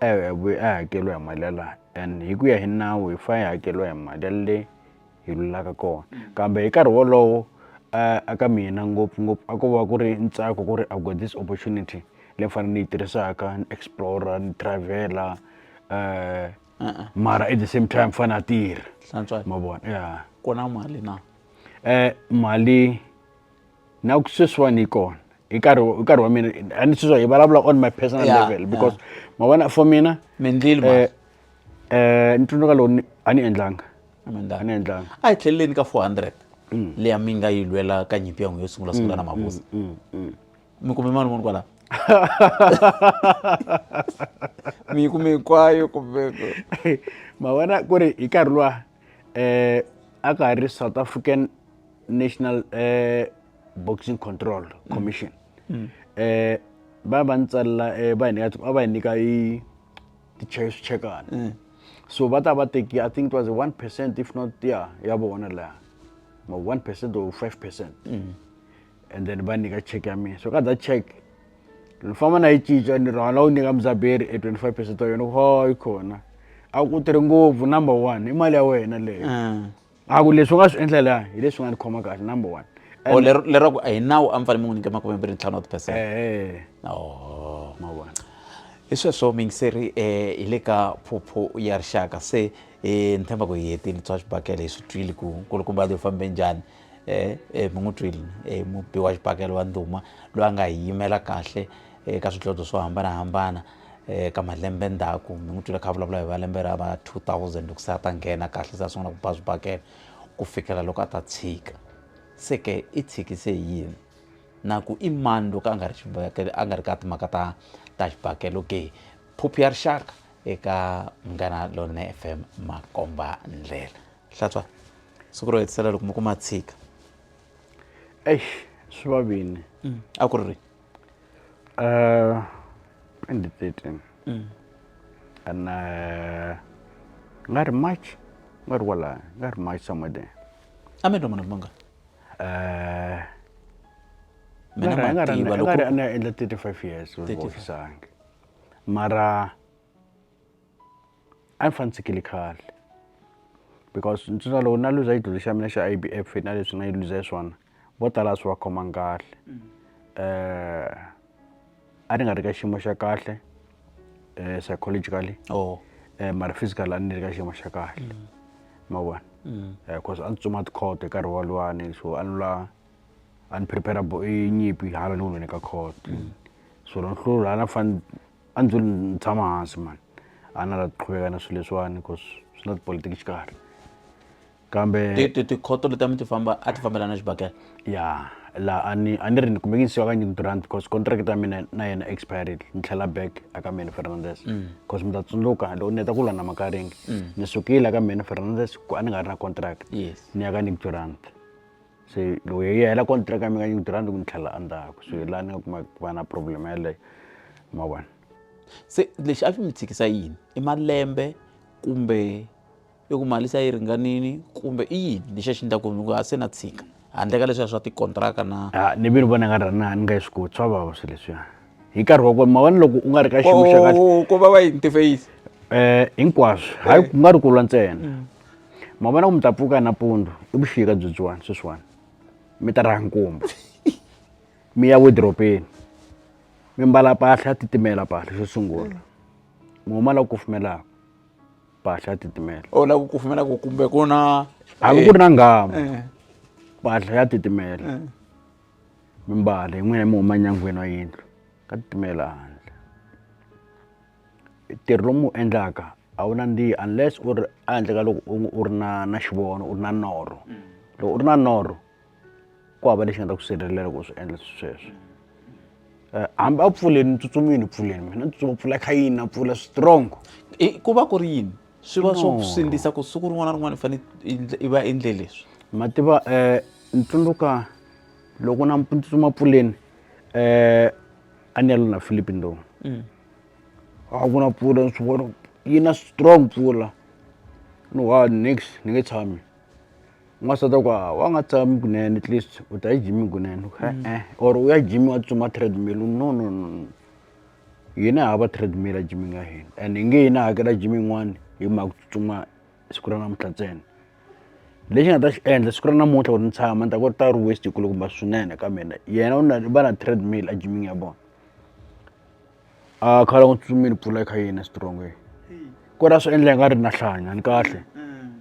Eya hi vuye a hakeriwa hi mali ya la and hi ku ya hi nawu hi fa hi hakeriwa hi mali ya le hi lulaka kona kambe hi nkarhi wolowo a ka mina ngopfungopfu a ko va ku ri ntsako ku ri I got this opportunity leyi ni fanele ni yi tirhisaka ni explore ni travel-a mara at the same time ni fanele ni tirha hlantswa ma vona ya ku na mali na mali. na ku sweswiwani yi kona hi nkarhi hi nkarhi wa mina a ni sweswiwa hi vulavula on my personal yeah, level because yeah. ma vona for mina mindlile ma eh, eh ni tsundzuka lowu a ni endlanga a ni endlanga a hi tlheleleni ka 400 mm. leya mi nga yi lwela ka nyimpi ya n'wi yo sungula sungula na mm, mabusa mm, mi kume mani munhu kwalaho mi yi kume hinkwayo kumbe ma vona ku ri hi nkarhi luwa eh a ka ha ri south african national eh, boxing control mm. commission mm. eh ba ba ntsalla eh ba nyika a ba nyika i ti chase chekana mm. so ba ta ba teki i think it was 1% if not yeah ya bona la ma 1% or 5% mm. and then va nyika check ya mina so ka that check ni famba na yi cinca ni rhwala wu nyika mudzaberi e twenty five percent wa yona ho yi khona a ku tirhi ngopfu number one i mali ya wena leyo mm. a ku leswi u nga swi endla laha hi leswi nga ni khoma kahle number one o oh, lero ku a hi nawu a mi fanele mi n'wi nyika makume mbirhi ntlhanu wa tipercent oh, mavona hi sweswo mingiseri um eh, hi le ka phuphu ya rixaka se um ni tshemba ku hi hetile tswa swibakele hi swi twile ku nkulukumba leyi fambe njhani eh, eh, mi n'wi twile eh, mubi wa xipakelo wa ndhuma loyi a nga hi yimela kahle eka eh, swidlodlo swo hambanahambana eh, ka malembe ndzhaku mi n'wi twile kha vulavula hi va lembe ra va 2000 loko se a ta nghena kahle se a sungula ku ba swibakela ku fikela loko a ta tshika se ke i tshikise yini na ku i mani loko a nga ri xibakele a nga ri ka timhaka ta ta xibakelo ke phuphu ya rixaka eka munghana lonene fm makomba ndlela hlatshwa siku ro hetisela loko mi kuma tshika eish swi va vini mm. a ku ri ri uh, 2013 mm. and uh, nga ri march nga ri kwala nga ri march somewhere there a mi twa munhu munga uh, mina nga ri na endla 35 years wu offisangi mara a ni fane ni tshikile khale because ntsena loko na luza xidlodlo xa mina xa I_B_F na leswi nga yi luza swona vo tala a swi va khomangi kahle a ni nga ri ka xiyimo xa kahle psychologically mara physically a ni ri ka xiyimo xa kahle ma vona cause a ni tsutsuma tikhoto hi nkarhi woluwani so a ni la a ni prepare-a nyimpi hala ni ku ka court so ni fanele. A ndzo ni tshama hansi mhani a na la qhuveka na swilo leswiwani cause swi na tipolitiki xikarhi kambe tikhoto leti a mi ti famba a ti fambelana xibakela ya la a ni a ni ri ni kumeke ni siwa ka new rand because contract ta mina na yena expired ni tlhela back aka many fernandes because mi ta tsundzuka loko ni heta ku lwa na makaringi ni sukile aka many fernandes ku a ni nga ri na contract ni ya ka new rand se loko yi hela contract ya mina yi tirha ni ku ni tlhela endzhaku so hi laha ni nga kuma ku va na problem yeleyo ma vona se lexi a swi mi tshikisa yini i malembe kumbe i ku mali se yi ringanini kumbe i yini lexi a xi endlaku ni ku a se na tshika handle ka leswiya swa tikontraka na a ni vi ni vona nga ri na ni nga yi swi koti swa vava swi leswiya hi nkarhi wa kona ma vona loko u nga ri ka xiyimo xa kahle ko va va yini tifeyisi um hinkwaswo hayi ku nga ri ku lwa ntsena mm. ma vona ku mi ta pfuka nampundzu i vuxika byebyiwani sweswiwani mi ta raha nkumba mi ya wedropeni mi mbala mpahla ya titimela mpahla xo sungula mi huma la ku kufumelaka mpahla ya titimela o oh, la ku kufumela ku kumbe ku na hambi ku ri na nghamu eh. mpahla ya titimela eh. mi mbala hi n'wina mi huma nyangweni wa yindlu ka titimela handle ntirho lowu mi wu endlaka a wu nandzihi unless u ri a handle ka loko u u ri na na xivono u ri na norho loko u ri na norho ku hava lexi nga ta ku sirhelela ku swi endla sweswo hambi a pfuleni ni tsutsumile ni pfuleni mina ni tsutsuma pfula kha yini na pfula strong ku va ku ri yini swi va swo sindzisa ku siku rin'wana na rin'wana i fanele i va endle leswi ma tiva um ni tsundzuka loko na ni tsutsuma pfuleni um a ni ya lo na philippine lowu mm. a ku na mpfula ni swi vona yi na strong mpfula ni one nix ni nge tshami n'wansati wa ku a wa nga tshami kunene at least u ta ejimini kunene e-e or u ya jimi wa tsutsuma treadmill no no no no hina hava treadmill a jimini ya hina and hi nge yi na hakela jimi yin'wani hi mhaka ku tsutsuma siku ra namuntlha ntsena lexi nga ta xi endla siku ra namuntlha ku ri ni tshama ni ta ku ri ta ri waste hi kulukumba swinene ka mina yena u na va na treadmill a jimini ya vona. a khala n'wi tsutsumile pfula kha yini strong ku ra swi endla nga ri na hlanya ni kahle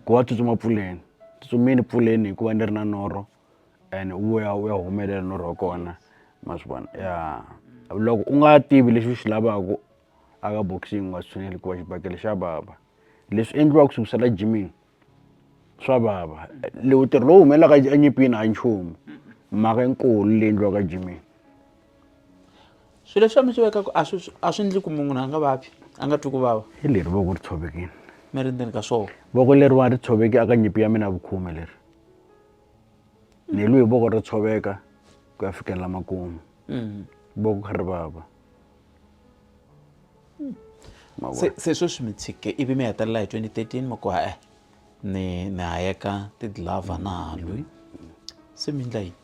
ku va tsutsuma pfuleni tsutsumile pfuleni hikuva ni ri na norho and u ya u ya humelela norho wa kona ma swi vona ya loko u nga tivi lexi u xi lavaka a ka boxing u nga tshuneli hikuva xibakele xa vava leswi endliwaka swi ku sala jimini. swa vava lowu tirhi lowu humelelaka enyimpini a nchumu mhaka yikulu leyi endliwaka jimini swilo leswi mi swi vekaka a swi a swi endli ku munhu a nga vabyi a nga twi ku vava hi leri voko ri tshovekile mi ri ndzeni ka swona voko leriwani ri tshoveke aka nyimpi ya mina vukhume leri ni lwi hi voko ro tshoveka ku ya fikelela makumu mm. voko kha ri vava hmm. se se sweswi mi tshike ivi mi hetelela hi 2013 mi ku hae ni ni hayeka tidlava na halwi se mi endla yini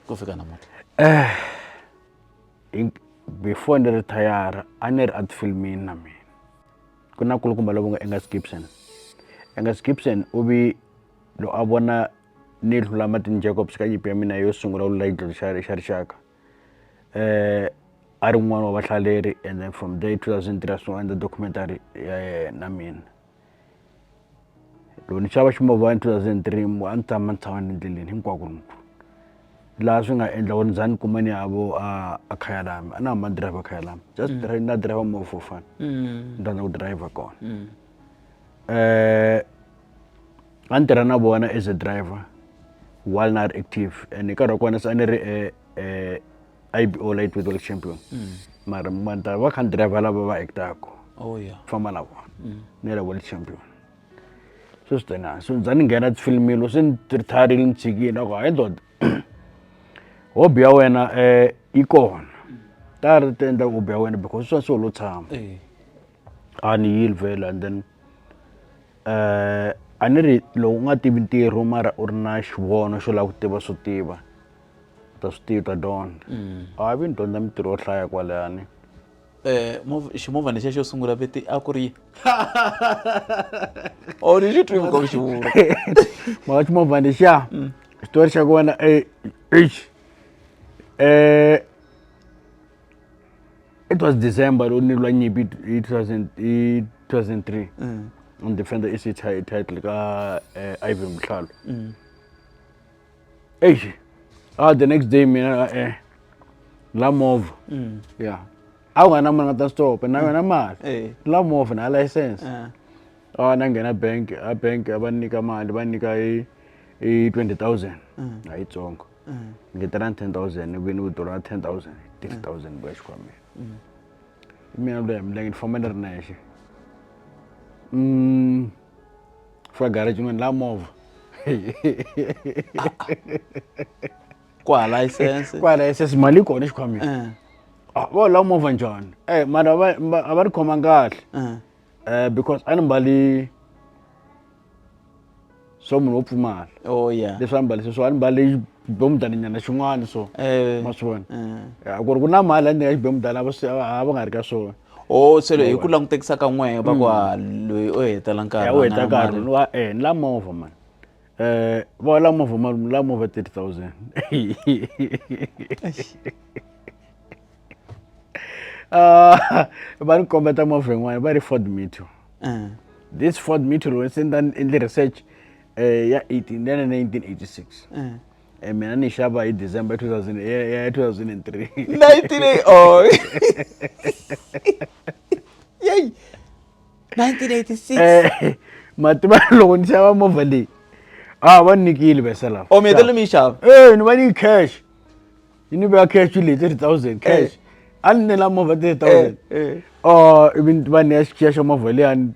ku fika namuntlha eh before ni retire a ni ri art filmini na mina ku na kulukumba lovo nga engas gibson engas gibson u vi lo a vona ni hlula martin jacobs ka nyipi ya mina yo sungula u lula yi dlodlo xa rixaka a ri n'wana wa vahlaleri and then from there two thousand three a sungula a endla documentary ya yena mina loko ni xava ximovhana two thousand three mu a ni tshama ni tshama ni ri ndleleni hinkwako ni laha swi nga endla ku ni za ni kuma ni ya vo a a khaya lami a na hamba ni driver khaya lami just na driver movha for fun ni rhandza ku driver kona . a ni tirha na vona as a driver while na ha ri active and hi nkarhi wa kona se a ni ri I_B_O lightweight world champion mara ma ni ta va kha ni driver lava va act-aku oh yeah famba na vona ni ri world champion so swi tena so ni za ni nghena tifilimi loko se ni tirhitarhile ni tshikile a ku hayi ndoda hobby ya wena um yi kona ta ri ti endla hobby ya wena because swa so lo tshama eh a ni yile vhele and then a ni ri loko u nga tivi ntirho mara u ri na xivono xo lava ku tiva swo tiva u ta swi tiva u ta dyondza a vi ni dyondza mintirho yo hlaya kwalani ximovha ni xe xo sungula viti a ku ri or ni xi twi muka ku xi vula maka ximovha lexiya xitori xa kona eish um it was december ro nilwa nyimpi hi 2000 hi 2003 mm. and defender i city high title ka uh, ivan mhlalo mm. eish ah the next day mina uh, eh, la mova mm. yeah a wu nga na mali nga ta stop na mm. yona mali eh. la mova na license uh. a na nghena bank a bank a va nyika mali va nyika hi hi 20000 mm. a yitsongo mm. ngeterani ten thousand ivi ni vito ra ten thousand thirty mm. thousand vuya xikhwameni mm. i mina loya milenge ni famba ni ri nexe um fika garage ni la movha ku hala isense ku hala isense mali yi kona xikhwameni eh. ah, vo la movha njhani e mara a va ri khoma kahle eh. eh, because a ni mbali swa munhu wo pfumala oh yeah leswi a ni mbalise swo a ni mbale xibemudaninyana xin'wana so eh ma swi vona eh. a ku ri ku na mali a ni nyika xibemudana a va swi- a va nga ri ka swona o oh, se hi ku langutekisa ka n'wehe va ku ha mm. loyi o hetela nkarhi u heta nkarhi wa eh ni la movha mani um va la movha mali la movha thirty thousand ah, va ni kombeta movha yin'wana va ri ford meteor uh. this ford meteor se ni endle research um ya 18 ni ya na 1986 uh. Eh, mina ni xava hi december 2000 ya 2003 19 oh 1986 eh, mativa loko ni xava movha leyi a va ni nikile veselafo o oh, mi hetelele mi yi xava e ni va ni yi cash yi ni veka cash leyi thirty thousand cash a ni nela movha thirty thousand o ivi va ni ya xichiya xa movha liyani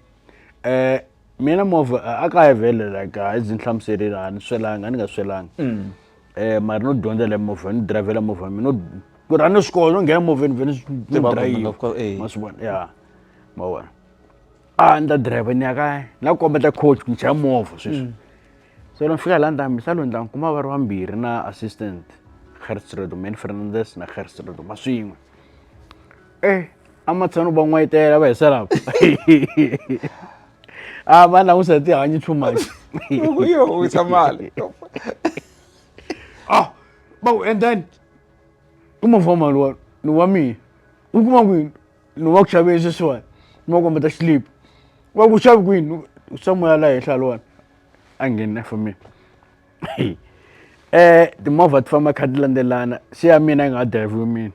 um mina movha a ka ya vhele like a ndzi ni hlamuserile a ni swelanga a ni nga swelanga um mara no dyondza le movha ni dirayivhela movha mina no ku rha ni swi kona no nghena movheni vhele ni dirayivha ma swi vona ya ma vona a ni ta dirayivha ni ya kaya ni la ku kombeta coach ku ni chaya movha sweswi So dan fika la ntambi sa lundla nkuma va ri vambirhi na assistant Gertrude Manny Fernandez na Gertrude Maswin'we eh amatshano va n'wayitela va hisa lava a va langusa tihanyi too much loko yi howisa mali ah ba ku and then ku mavoma lowa ni wa mina u kuma kwini ni wa ku xaveni sweswiwani ni wa kombeta xilipi wa ku xavi kwini samoya la henhla lowani a ngheni for me eh timovha ti famba kha ti landzelana se ya mina yi nga ha drive mina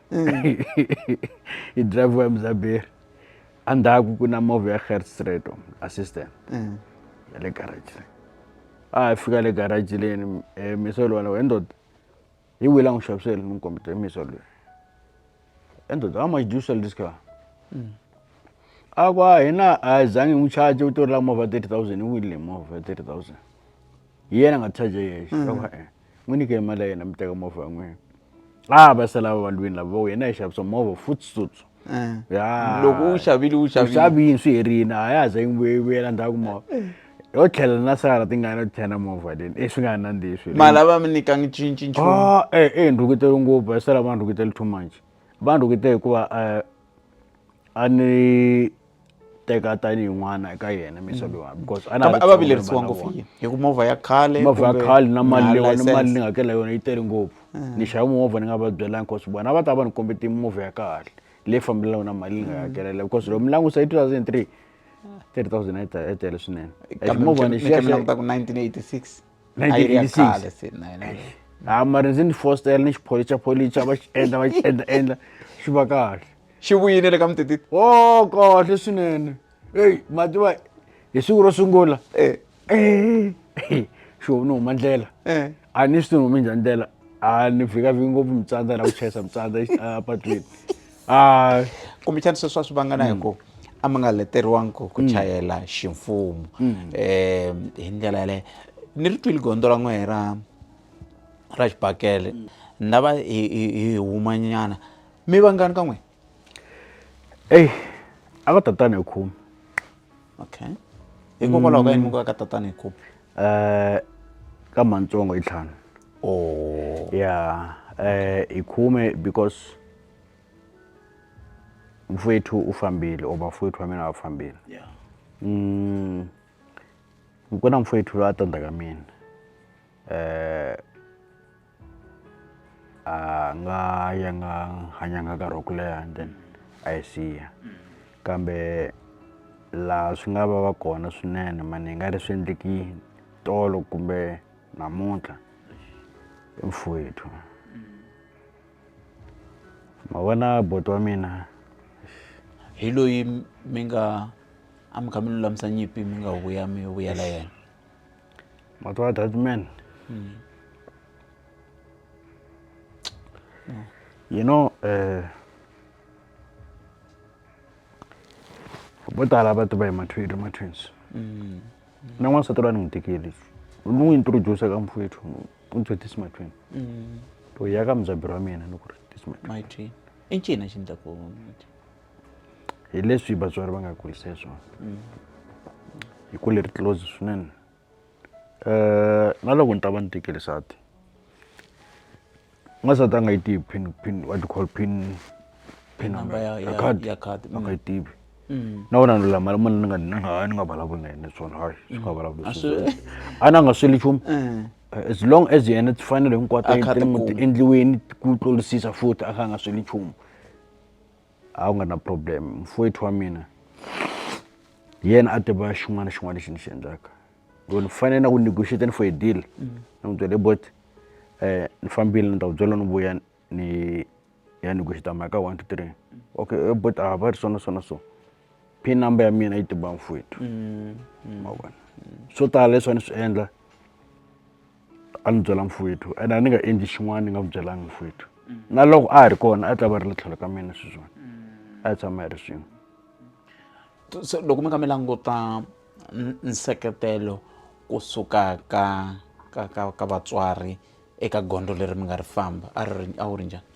yi drive ya muzaberi endzhaku ku na movha ya Gert Streeto assistant mm. ya le garage a hi fika le garage leni eh, misolo wena wendoda Hi wihi la n'wi xavisele ni n'wi kombeta hi misa loyi and the how much do you sell this car mm. a ku a hina a hi zangi n'wi charge u to ri la movha 30000 u winile movha 30000 hi yena nga charge yexe mm. eh, n'wi nyike mali ya yena mi teka movha ya n'wina a va sala va valwini lava wena hi xavisa movha futsutsu ya loko u xavile u xavile xavini swi herini a ya ha za yi vuye vuyela ndzhaku movha yo tlhela na sara tingana yo tlhela movha leni e swi nga ha nandzihi swi mali a va mi nyikanga cinci nchumu a e e ndhukutelo ngopfu va sala va ndhukutele too much va ndhukutele hikuva a ni teka tanihi n'wana eka yena misa mm. lowa because a a va vilerisiwa ngopfu yini hi ku movha ya khale movha ya khale na mali lewa na mali ni nga hakela yona yi tele ngopfu mm. ni xava movha ni nga va byelanga because vona a va ta va ni kombete movha ya kahle leyi fambelanaka na mali ni nga mm. hakelela because loko mi langusa hi 2003 3000 yi tele swinene movha ni xiyaka ku 1986 1986 khale se na yena ha mara ndzi ni fostela ni xipholicha pholicha va xi endla va xi endla endla xi va kahle xi vuyile le ka mutititi o kahle swinene eyi mativa hi siku ro sungula Eh, Eh, xi humi ni huma ndlela eh. a ni swi ni humi njhani ndlela a ni vhikavhiki ngopfu mitsandza na ku chayisa mitsandza exi- a patwini a kumbexani sweswi a swi vangana hi ku a mi nga leteriwangi ku ku chayela ximfumo um hi ndlela yaleyo ni ri twile gondzo ra n'wehe ra ra xibakele ni lava hi hi- hi humanyana mi vangani ka n'we eyi a va tatani hi khume okay hikokwalaho ka yini mi ku ka tatani hi khume um ka mantsongo hi ntlhanu o ya um hi khume because mfowethu u fambile or vafowethu va mina va fambile yeah mm, ku na mfowethu loyi a ta ndzhaka mina eh a nga ya nga hanyanga nkarhi wa ku leha and then a yi siya kambe laha swi nga va va kona swinene mani hi nga ri swi endleki tolo kumbe namuntlha i mfowethu ma vona boti wa mina hi loyi mi nga a mi kha mi lulamisa nyimpi mi nga vuya mi vuyela yena ma tiva that man hmm. you know eh vo tala va tiva hi mathwiri ma-twins mm. na n'wansati loyi a ni n'wi tekeli ni n'wi introduce ka mfowethu u ni byele this my twin mm. to ya ka mudzaberi wa mina ni ku ri this my my twin i ncini xi ndla ku hi leswi vatswari va nga kurisa hi swona mm. hi ku leri close swinene um na loko ni ta va ni tekeli sati u nga se ta a nga yi tivi pin pin what you call pin pin number ya ya card ya card a nga yi tivi na wena ni lula mali mali ni nga ni nga ni nga vulavuli na yena swona hayi swi nga vulavuli a na nga sweli nchumu as long as yena tifanele hinkwato ti endliweni ku tlolisisa futhi a kha a nga sweli nchumu a wu nga na problem mfowethu wa mina hi yena a tiva xin'wana na xin'wana lexi ni xi endlaka loko ni fanele na ku negotiate ni for a deal ni n'wi byele bot um ni fambile ni ta ku byela ni vuya ni ya negotiate mhaka one two three okay eh, bot a ah, va ri swona swona so pin number ya mina yi tiba mfowethu mm, mm. mavona swo tala leswi a ni swi endla a ni byela mfowethu and a ni nga endli xin'wana ni nga n'wi byelanga mfowethu mm. na loko a ha ri kona a ta va ri le tlhelo ka mina sweswona a yi tshama yi ri swin'we loko mi nga mi languta nseketelo kusuka ka ka ka ka vatswari eka gondzo leri mi nga ri famba a ri a wu ri njhani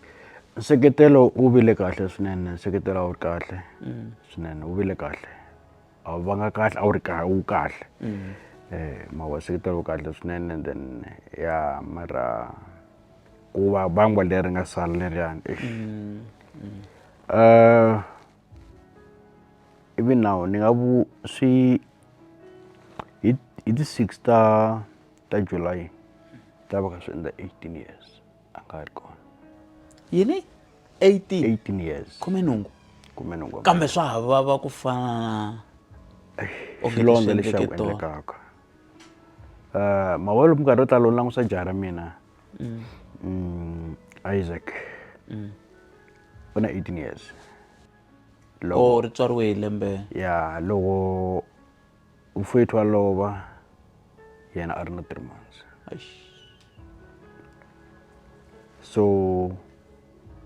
nseketelo wu vile kahle swinene nseketelo a wu ri kahle mm. swinene wu vile kahle a wu vanga kahle a wu ri kahle wu kahle mm. eh ma wa nseketelo wu kahle swinene then ya mara ku va bangwa leri nga sala leriyani mm. eh ivi nawu ni nga vu swi hi hi ti six ta ta July ni ta va kha swi endla eighteen years a nga ha ri kona yini eighteen eighteen years khume nhungu khume nhungu kambe swa ha vava ku fana na xilondza lexi xa ku endlekaka um mavolo minkarhi yo tala u langusa jaha ra mina Mm, isaac u na 18 years loko o ri tswariwe hi lembe ya loko mfowethu wa lova yena a ri na three months Eish. so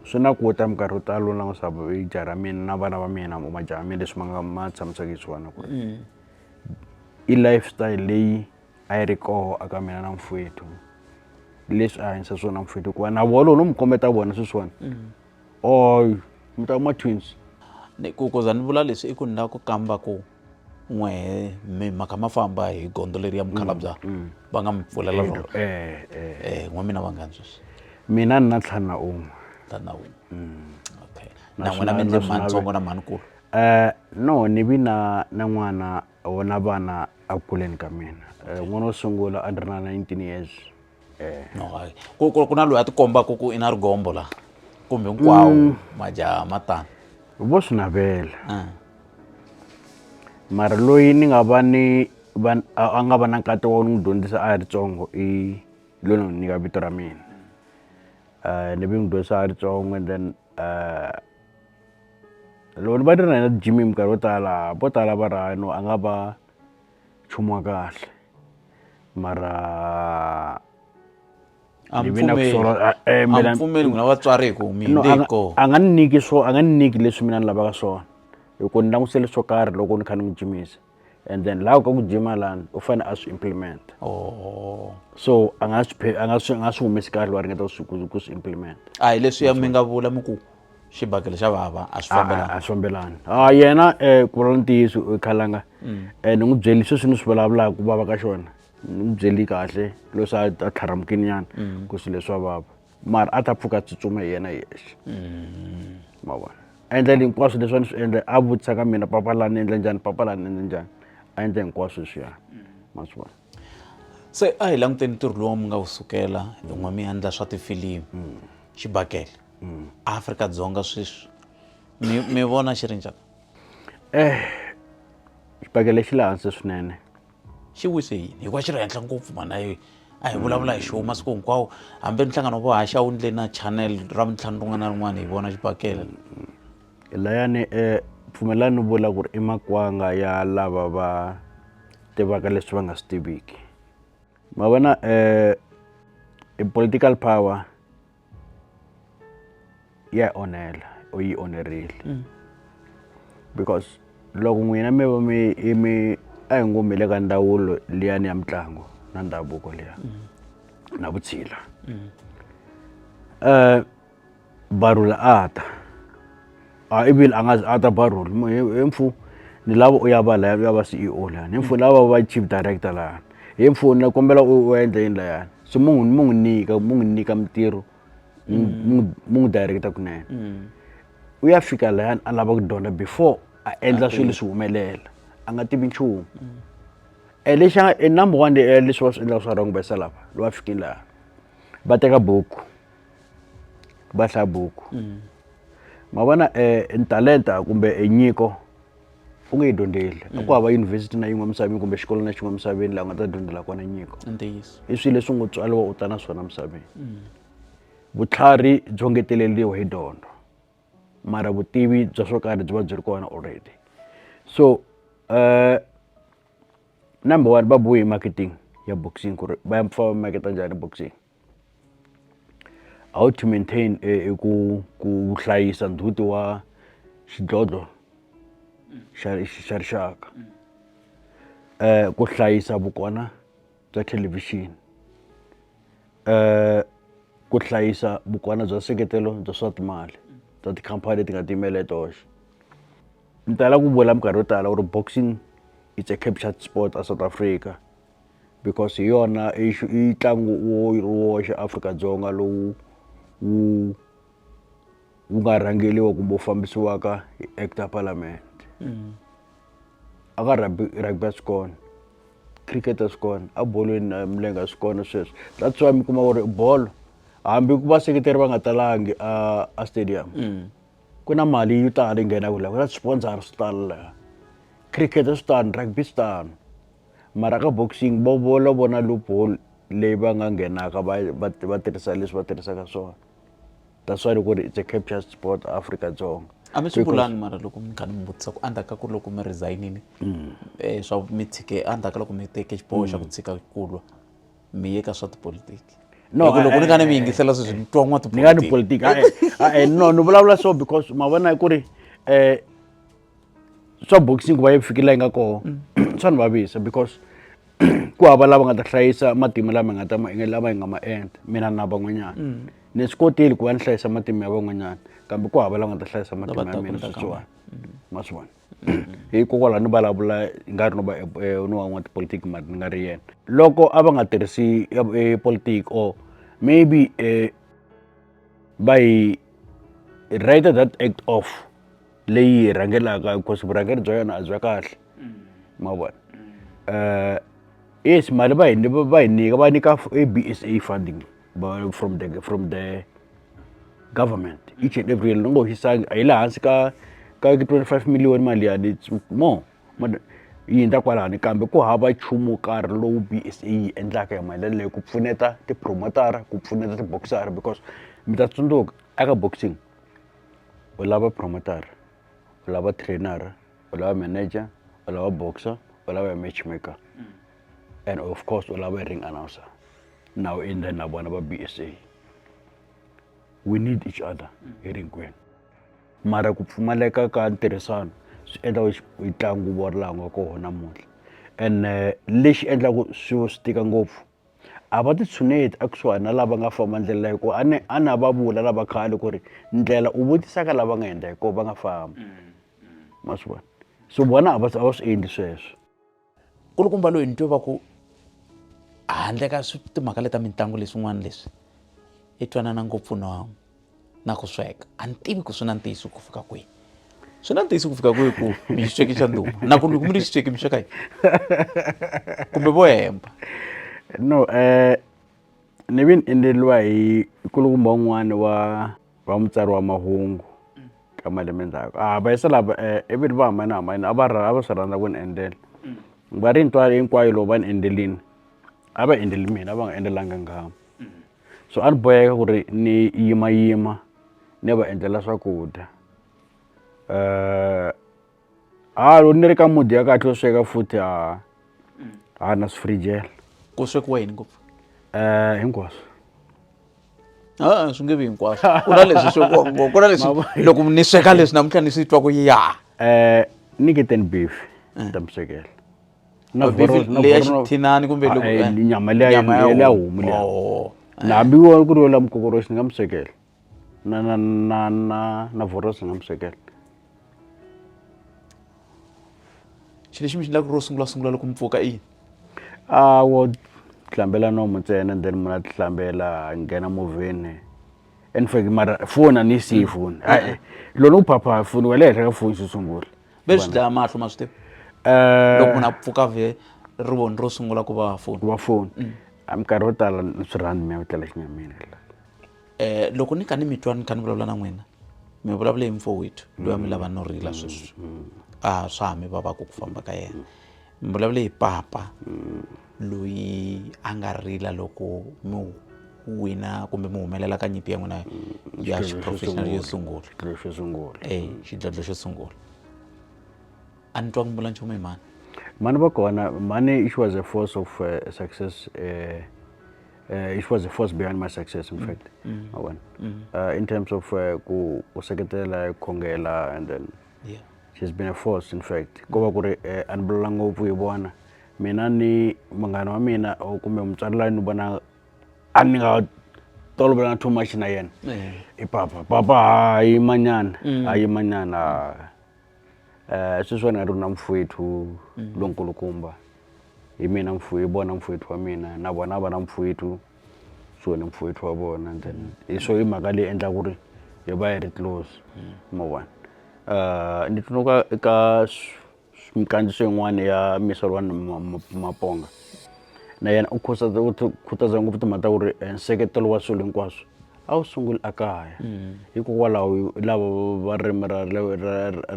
swi na ku ta minkarhi yo tala u langusa jaha ra mina na vana va mina majaha ya mina leswi ma nga ma tshamisaka hi swona ku ri i lifestyle leyi a yi ri koho a ka mina na mfwethu leswi a hanyisa swona mfwethu hikuva na vona loko no mi kombeta vona sweswiwani mm. oy mi ta kuma twins ni ku ku za ni vula leswi i ku ni lava ku kamba ku n'wehe mi mhaka ma famba hi gondo leri ya mukhalabya mm, mm. va nga mi pfulela rona eh, eh. eh, n'we mina vanghani sweswi mina ni na ntlhanu na un'we ntlhanu na un'we okay na n'wina mi endle mhani ntsongo na mhani kulu um no ni vi na na n'wana vona vana a kuleni ka mina eh, n'wana wo sungula a ni ri na 19 years eh. no, ku, ku, ku na loyi a tikombaka ku i na rigombo la kumbe hinkwawo mm. majaha matano vo swi navela ah. mara loyi ni nga va ni a nga va na nkati wa n'wi dyondzisa a ri tsongo i loyi ni nyika vito ra mina eh, ni vi n'wi dyondzisa a ri tsongo and then eh, loko ni va ni ri na yena jimi minkarhi yo tala vo tala va ri hayi no a nga va nchumu wa kahle mara a ni pfumeli mina vatswari hi ku mi hinde hi koho a nga ni nyiki swo a nga ni nyiki leswi mina ni lavaka swona hi ku ni langusele swo karhi loko ni kha ni n'wi jimisa. and then laha ka ku jima lani u fanele a swi implimenta oh. so a nga swi a nga swi nga swi humesi kahle wa ringeta ku ku swi implimenta a hi leswi ya mi nga vula mi ku xibakele xa vava a swi fambelani a swi fambelani a yena um ku vula ntiyiso u khalanga um mm. eh, ni n'wi byeli sweswi ni swi vulavulaka ku vava ka xona ni n'wi byeli kahle leswi a tlharamukini nyana mm. ku swilo leswa vava mara a ta pfuka tsutsuma hi yena hi yexe mm. ma vona a endla le hinkwaswo leswi a ni swi endla a vutisa ka mina papa la ni endla njhani papa la ni endla njhani a endla hinkwaswo leswiya ma swi vona se a hi languteni ntirho lowu mi nga wu sukela hi n'we mi endla swa tifilimu xibakele afrika-dzonga sweswi mi mi vona xi ri njhani eh xibakele xi le hansi swinene xi wise yini hikuva xi ri henhla ngopfu mhana yi a hi vulavula hi xoho masiku hinkwawo hambi ri nhlangano vo haxa wu ndle na channel ra mintlhanu rin'wana na rin'wana hi vona xibakele mm-hmm. layani um eh, pfumelani ni vula ku ri i makwanga ya lava va tivaka leswi va nga swi tiviki ma vona um i political power ya yi onhela u yi onherile mm. because loko n'wina mi va mi i mi a hi ngo mi le ka ndawulo liyani ya mitlangu na ndhavuko liya mm. na vutshila um mm. eh, barula a ta a i vile a nga a ta ba role he mfu ni lava u ya va laya u ya va CEO lani he mfu lava va chief director lani he mfu ni kombela u endla yini layani so mu n'wi mu n'wi nyika mu n'wi nyika mintirho mu n'wi mu n'wi director kunene u ya fika layani a lava ku dyondza before a endla swilo leswi humelela a nga tivi nchumu e lexi a nga e number one leswi va swi endlaka swa wrong va yisa lava lowa fikini laha va teka buku va hlaya buku mm. ma vona eh, e talenta kumbe e nyiko u nge yi dyondzeli mm. a ku hava yunivhesiti na yin'we misaveni kumbe xikolo na xin'we misaveni laha u nga ta dyondzela kona nyiko i swilo leswi ngo tswaliwa u ta na swona misaveni mm. vutlhari byo ngeteleriwa hi dyondzo mara vutivi bya swo karhi byi va byi ri kona already so uh, number one va bohe marketing ya boxing ku ri va ya pfa va maketa njhani boxing how to maintain i ku ku hlayisa ndzhuti wa xidlodlo xa xa rixaka um ku hlayisa vukona bya thelevhixini um ku hlayisa vukona bya nseketelo bya swa timali bya tikhampani leti nga tiyimela hi toxe ni tala ku vula minkarhi yo tala ku ri boxing it's a captured sport a south africa because hi yona i i ntlangu wo ri woxe Afrika-Dzonga lowu wu wu nga rhangeriwa kumbe wu fambisiwaka hi act ya parliament a ka rugby rugby a swi kona cricket a swi kona a bolweni na milenge a swi kona sweswo that's why mi kuma ku ri bolo hambi ku vaseketeri va nga talangi a a stadium ku na mali yo tala yi nghenaka la ku na swipondzara swo tala la cricket swi tano rugby swi tano. mara ka boxing vo vo lo vona loophole leyi va nga nghenaka va va va tirhisa leswi va tirhisaka swona that's why ni ku ri it's a captured sport Afrika-Dzonga a mi swi vulanga mara loko mi kha ni mi vutisa ku endzhaku ka ku loko mi resignile um swa mi tshike endzhaku ka loko mi teke xiboho xa ku mm. tshika ku lwa mi ye ka swa tipolotiki no loko ni nga ni mi yingisela sweswi ni twa n'wa tipolotiki ni nga ni politiki no ni vulavula so because ma vona ku ri um swa boxing ku va yi fikile la yi nga koho swa ni vavisa because ku hava lava nga ta hlayisa matimu lama nga ta ma enge lama yi nga ma endla mina na van'wanyana ni swi kotile ku va ni hlayisa matimu ya van'wanyana kambe ku hava lava nga ta hlayisa matimu ya mina switswana ma swi vona hikokwalaho ni vulavula hi nga ri no va ni wa n'watipolitiki mari ni nga ri yena loko a va nga tirhisi politiki or maybe va yi writer that act off leyi hi rhangelaka because vurhangeri bya yona a bya kahle ma vona um yes mali va hi va hi nyika va nyika a b s a funding from the from the government each and every year ni ngo hisangi a yi le hansi ka ka 25 million mali ya ni more yi hundza kwalani kambe ku hava nchumu wo karhi lowu b s a yi endlaka hi mali leyi ku pfuneta tipromotara ku pfuneta tiboxara because mi ta tsundzuka eka boxing u lava promoter-a u lava trainer-a u lava manager u lava boxer u lava ya match maker and of course u lava ring announcer na u endla na vona va b s a we need each other hi ri hinkwenu mara ku pfumaleka ka ntirhisano swi endla yi ntlangu wo laha nga kona namuntlha ene lexi endlaka swilo swi tika ngopfu a va titshuneti a kusuhani na lava nga famba ndlela hikuva a ni a na va vula lava khale ku ri ndlela u vutisa ka lava nga endla hikuva va nga famba ma swi vona so vona a va a va swi endli sweswo kulukumba loyi ni twe va ku handle ka timhaka leta mitlangu leswin'wana leswi i twanana ngopfu na na ku sweka a ni tivi ku swi na ntiyiso ku fika kwihi swi na ntiyiso ku fika kwihi ku mi xisweki xa nduma na ku loko mi ri xisweki mi sweka yi kumbe vo hemba no um ni vi ni endleriwa hi kulukumba un'wana wa wa mutsari wa mahungu ka malembe ndzhaku a va yisa lava um eh, ivi va hambanahambanile a va a va swi rhandza ku ni endlela mm. va ri ntwalo hinkwayo lowu va ni endlelini a va endleli mina a va nga endlelanga ngama so a ni boheka ku ri ni yimayima ni va endlela swakudya ha loko ni ri ka mudi ya kahle yo sweka futhi ha ha na swi frijela ku swekiwa yini ngopfu hinkwaswo a swi nge vi hinkwaswo ku na leswi swekiwaka ngopfu ku na leswi loko ni sweka leswi namuntlha ni swi twa ku ya um ni ke ten beef ta mi swekela na Beef voro- na leyi ya voro- xithinani kumbe loko- Ah, eh, eh, nyama leya nyama ya leya homu. homu leya Oh. na hambi wo ku ri yo la mukokoroxi ni nga mu swekela na na na na na vorosi ni nga mu swekela xilo lexi mi xi endlaka ro sungula sungula loko mi pfuka i yini a wo hlambela nomu ntsena and then munhu a tihlambela a nghena movheni in fact mara foni a ni yi siyi foni hayi loko ni ku phapha foni wa le henhla ka foni xo sungula ve swi dlaya mahlo ma swi tiva eh, loko munhu a pfuka vhe ri voni ro sungula ku va foni wa foni mm. a minkarhi yo tala ni swi rhandi mi ya ku tlela xinyamini eh loko ni ka ni mitwa ni kha ni vulavula na n'wina mi vulavule hi mfo wethu loyi a mi lava no rila sweswi a swa ha mi vavaka ku famba ka yena ni vulavule hi papa mm. loyi a nga rila loko mi wina kumbe mi humelela ka nyimpi ya n'wina mm. ya xiprofessional yo sungula e xidlodlo xo sungula a ni twa ku mbula nchumu hi mani mani va kona mani she was a force of uh, success uh, uh, it was the force behind my success in mm. fact mm. Mm. Uh, in terms of uh, ku seketela khongela and then yeah. she's been a force in fact ko va ku ri eh, a ni vulela ngopfu hi vona mina ni munghana wa mina or kumbe mutswari layi ni vona a ni nga tolovelanga too much na yena eh. i papa papa hayi manyana mm. hayi manyana um sweswi wena ri na mfowethu mm. lonkulukumba hi mina mfu hi vona mfowethu wa mina na vona a va na mfowethu so ni mfowethu wa vona and then hi swo i mhaka leyi endla ku ri hi va hi ri close ma vona ni tsundzuka eka minkandziyiso yin'wani ya maponga na yena u khuza u khutaza ngopfu timhaka ta ku ri nseketelo wa swilo hinkwaswo a wu sunguli a kaya hikokwalaho lava va ririmi ra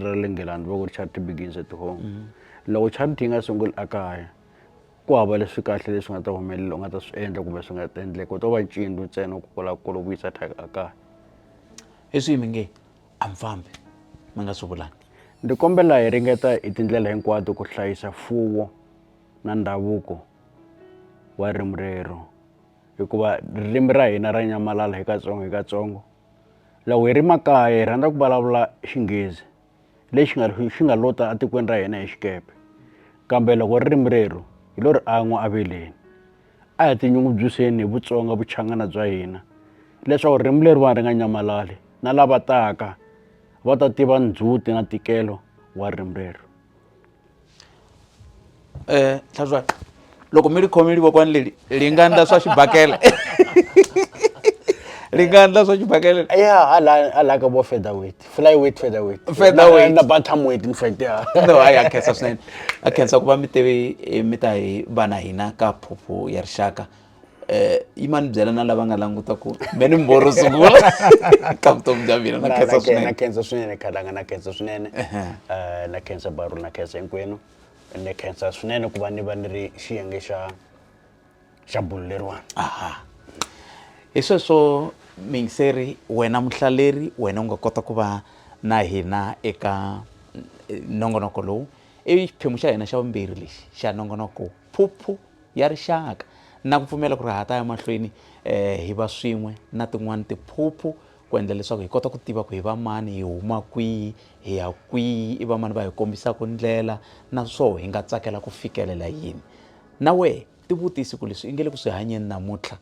ra le Nghilandhi va ku ri charity begins at home loko charity yi nga sunguli a kaya. ku hava leswi kahle leswi nga ta humelela u nga ta swi endla kumbe swi nga ta endleka u to va ncindzu ntsena ku kula ku kula vuyisa thyaka a kaya hi swihi mi nge a mi fambi mi nga swi vulangi ndzi kombela hi ringeta hi tindlela hinkwato ku hlayisa fuwo na ndhavuko wa ririmi rero hikuva ririmi ra hina ra nyamalala hi katsongo hi katsongo loko hi ri makaya hi rhandza ku vulavula xinghezi lexi nga xi nga lota atikweni ra hina hi xikepe kambe loko ririmi rero hi lo ri an'wa aveleni a hi tinyungubyiseni hi vutsonga vuchangana bya hina leswaku ririmi leriwani ri nga nyamalali na lava taka va ta tiva ndzhuti na ntikelo wa ririmi rero um tlhatlwa loko mi ri khome livokwani leli li nga ndla swa xibakela li nga ndla swa xibakela ya hala hala ka vo feather weight fly weight feather weight feather weight na bantam weight in fact ya no hayi a khensa swinene a khensa ku va mi teve eh, mi ta hi vana hina ka phuphu ya rixaka eh, yi ma ni byela na lava nga languta ku me ni mboro sungula ka vutomi bya mina na khensa swinene na khensa swinene khalanga na khensa swinene eh, na khensa baru na khensa hinkwenu ni khensa swinene ku va ni va ni ri xiyenge xa xa bulo leriwani aha hi sweswo mingiseri wena muhlaleri wena u nga kota ku va na hina eka eh, nongonoko lowu i xiphemu xa hina xa vumbirhi lexi xa nongonoko Phuphu ya Rixaka na ku pfumela ku ri ha ta ya mahlweni eh, hi va swin'we na tin'wana tiphuphu ku endla leswaku hi kota ku tiva ku hi va mani hi huma kwihi hi ya kwihi i va mani va hi kombisaka ndlela naswoho hi nga tsakela ku fikelela yini na wehe tivutisi ku leswi i nge le ku swi hanyeni namuntlha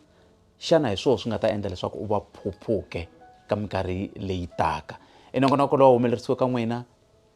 xana hi swoho swi nga ta endla leswaku u va phuphuke ka minkarhi leyi taka enongonoko lowu humelerisiwe ka n'wina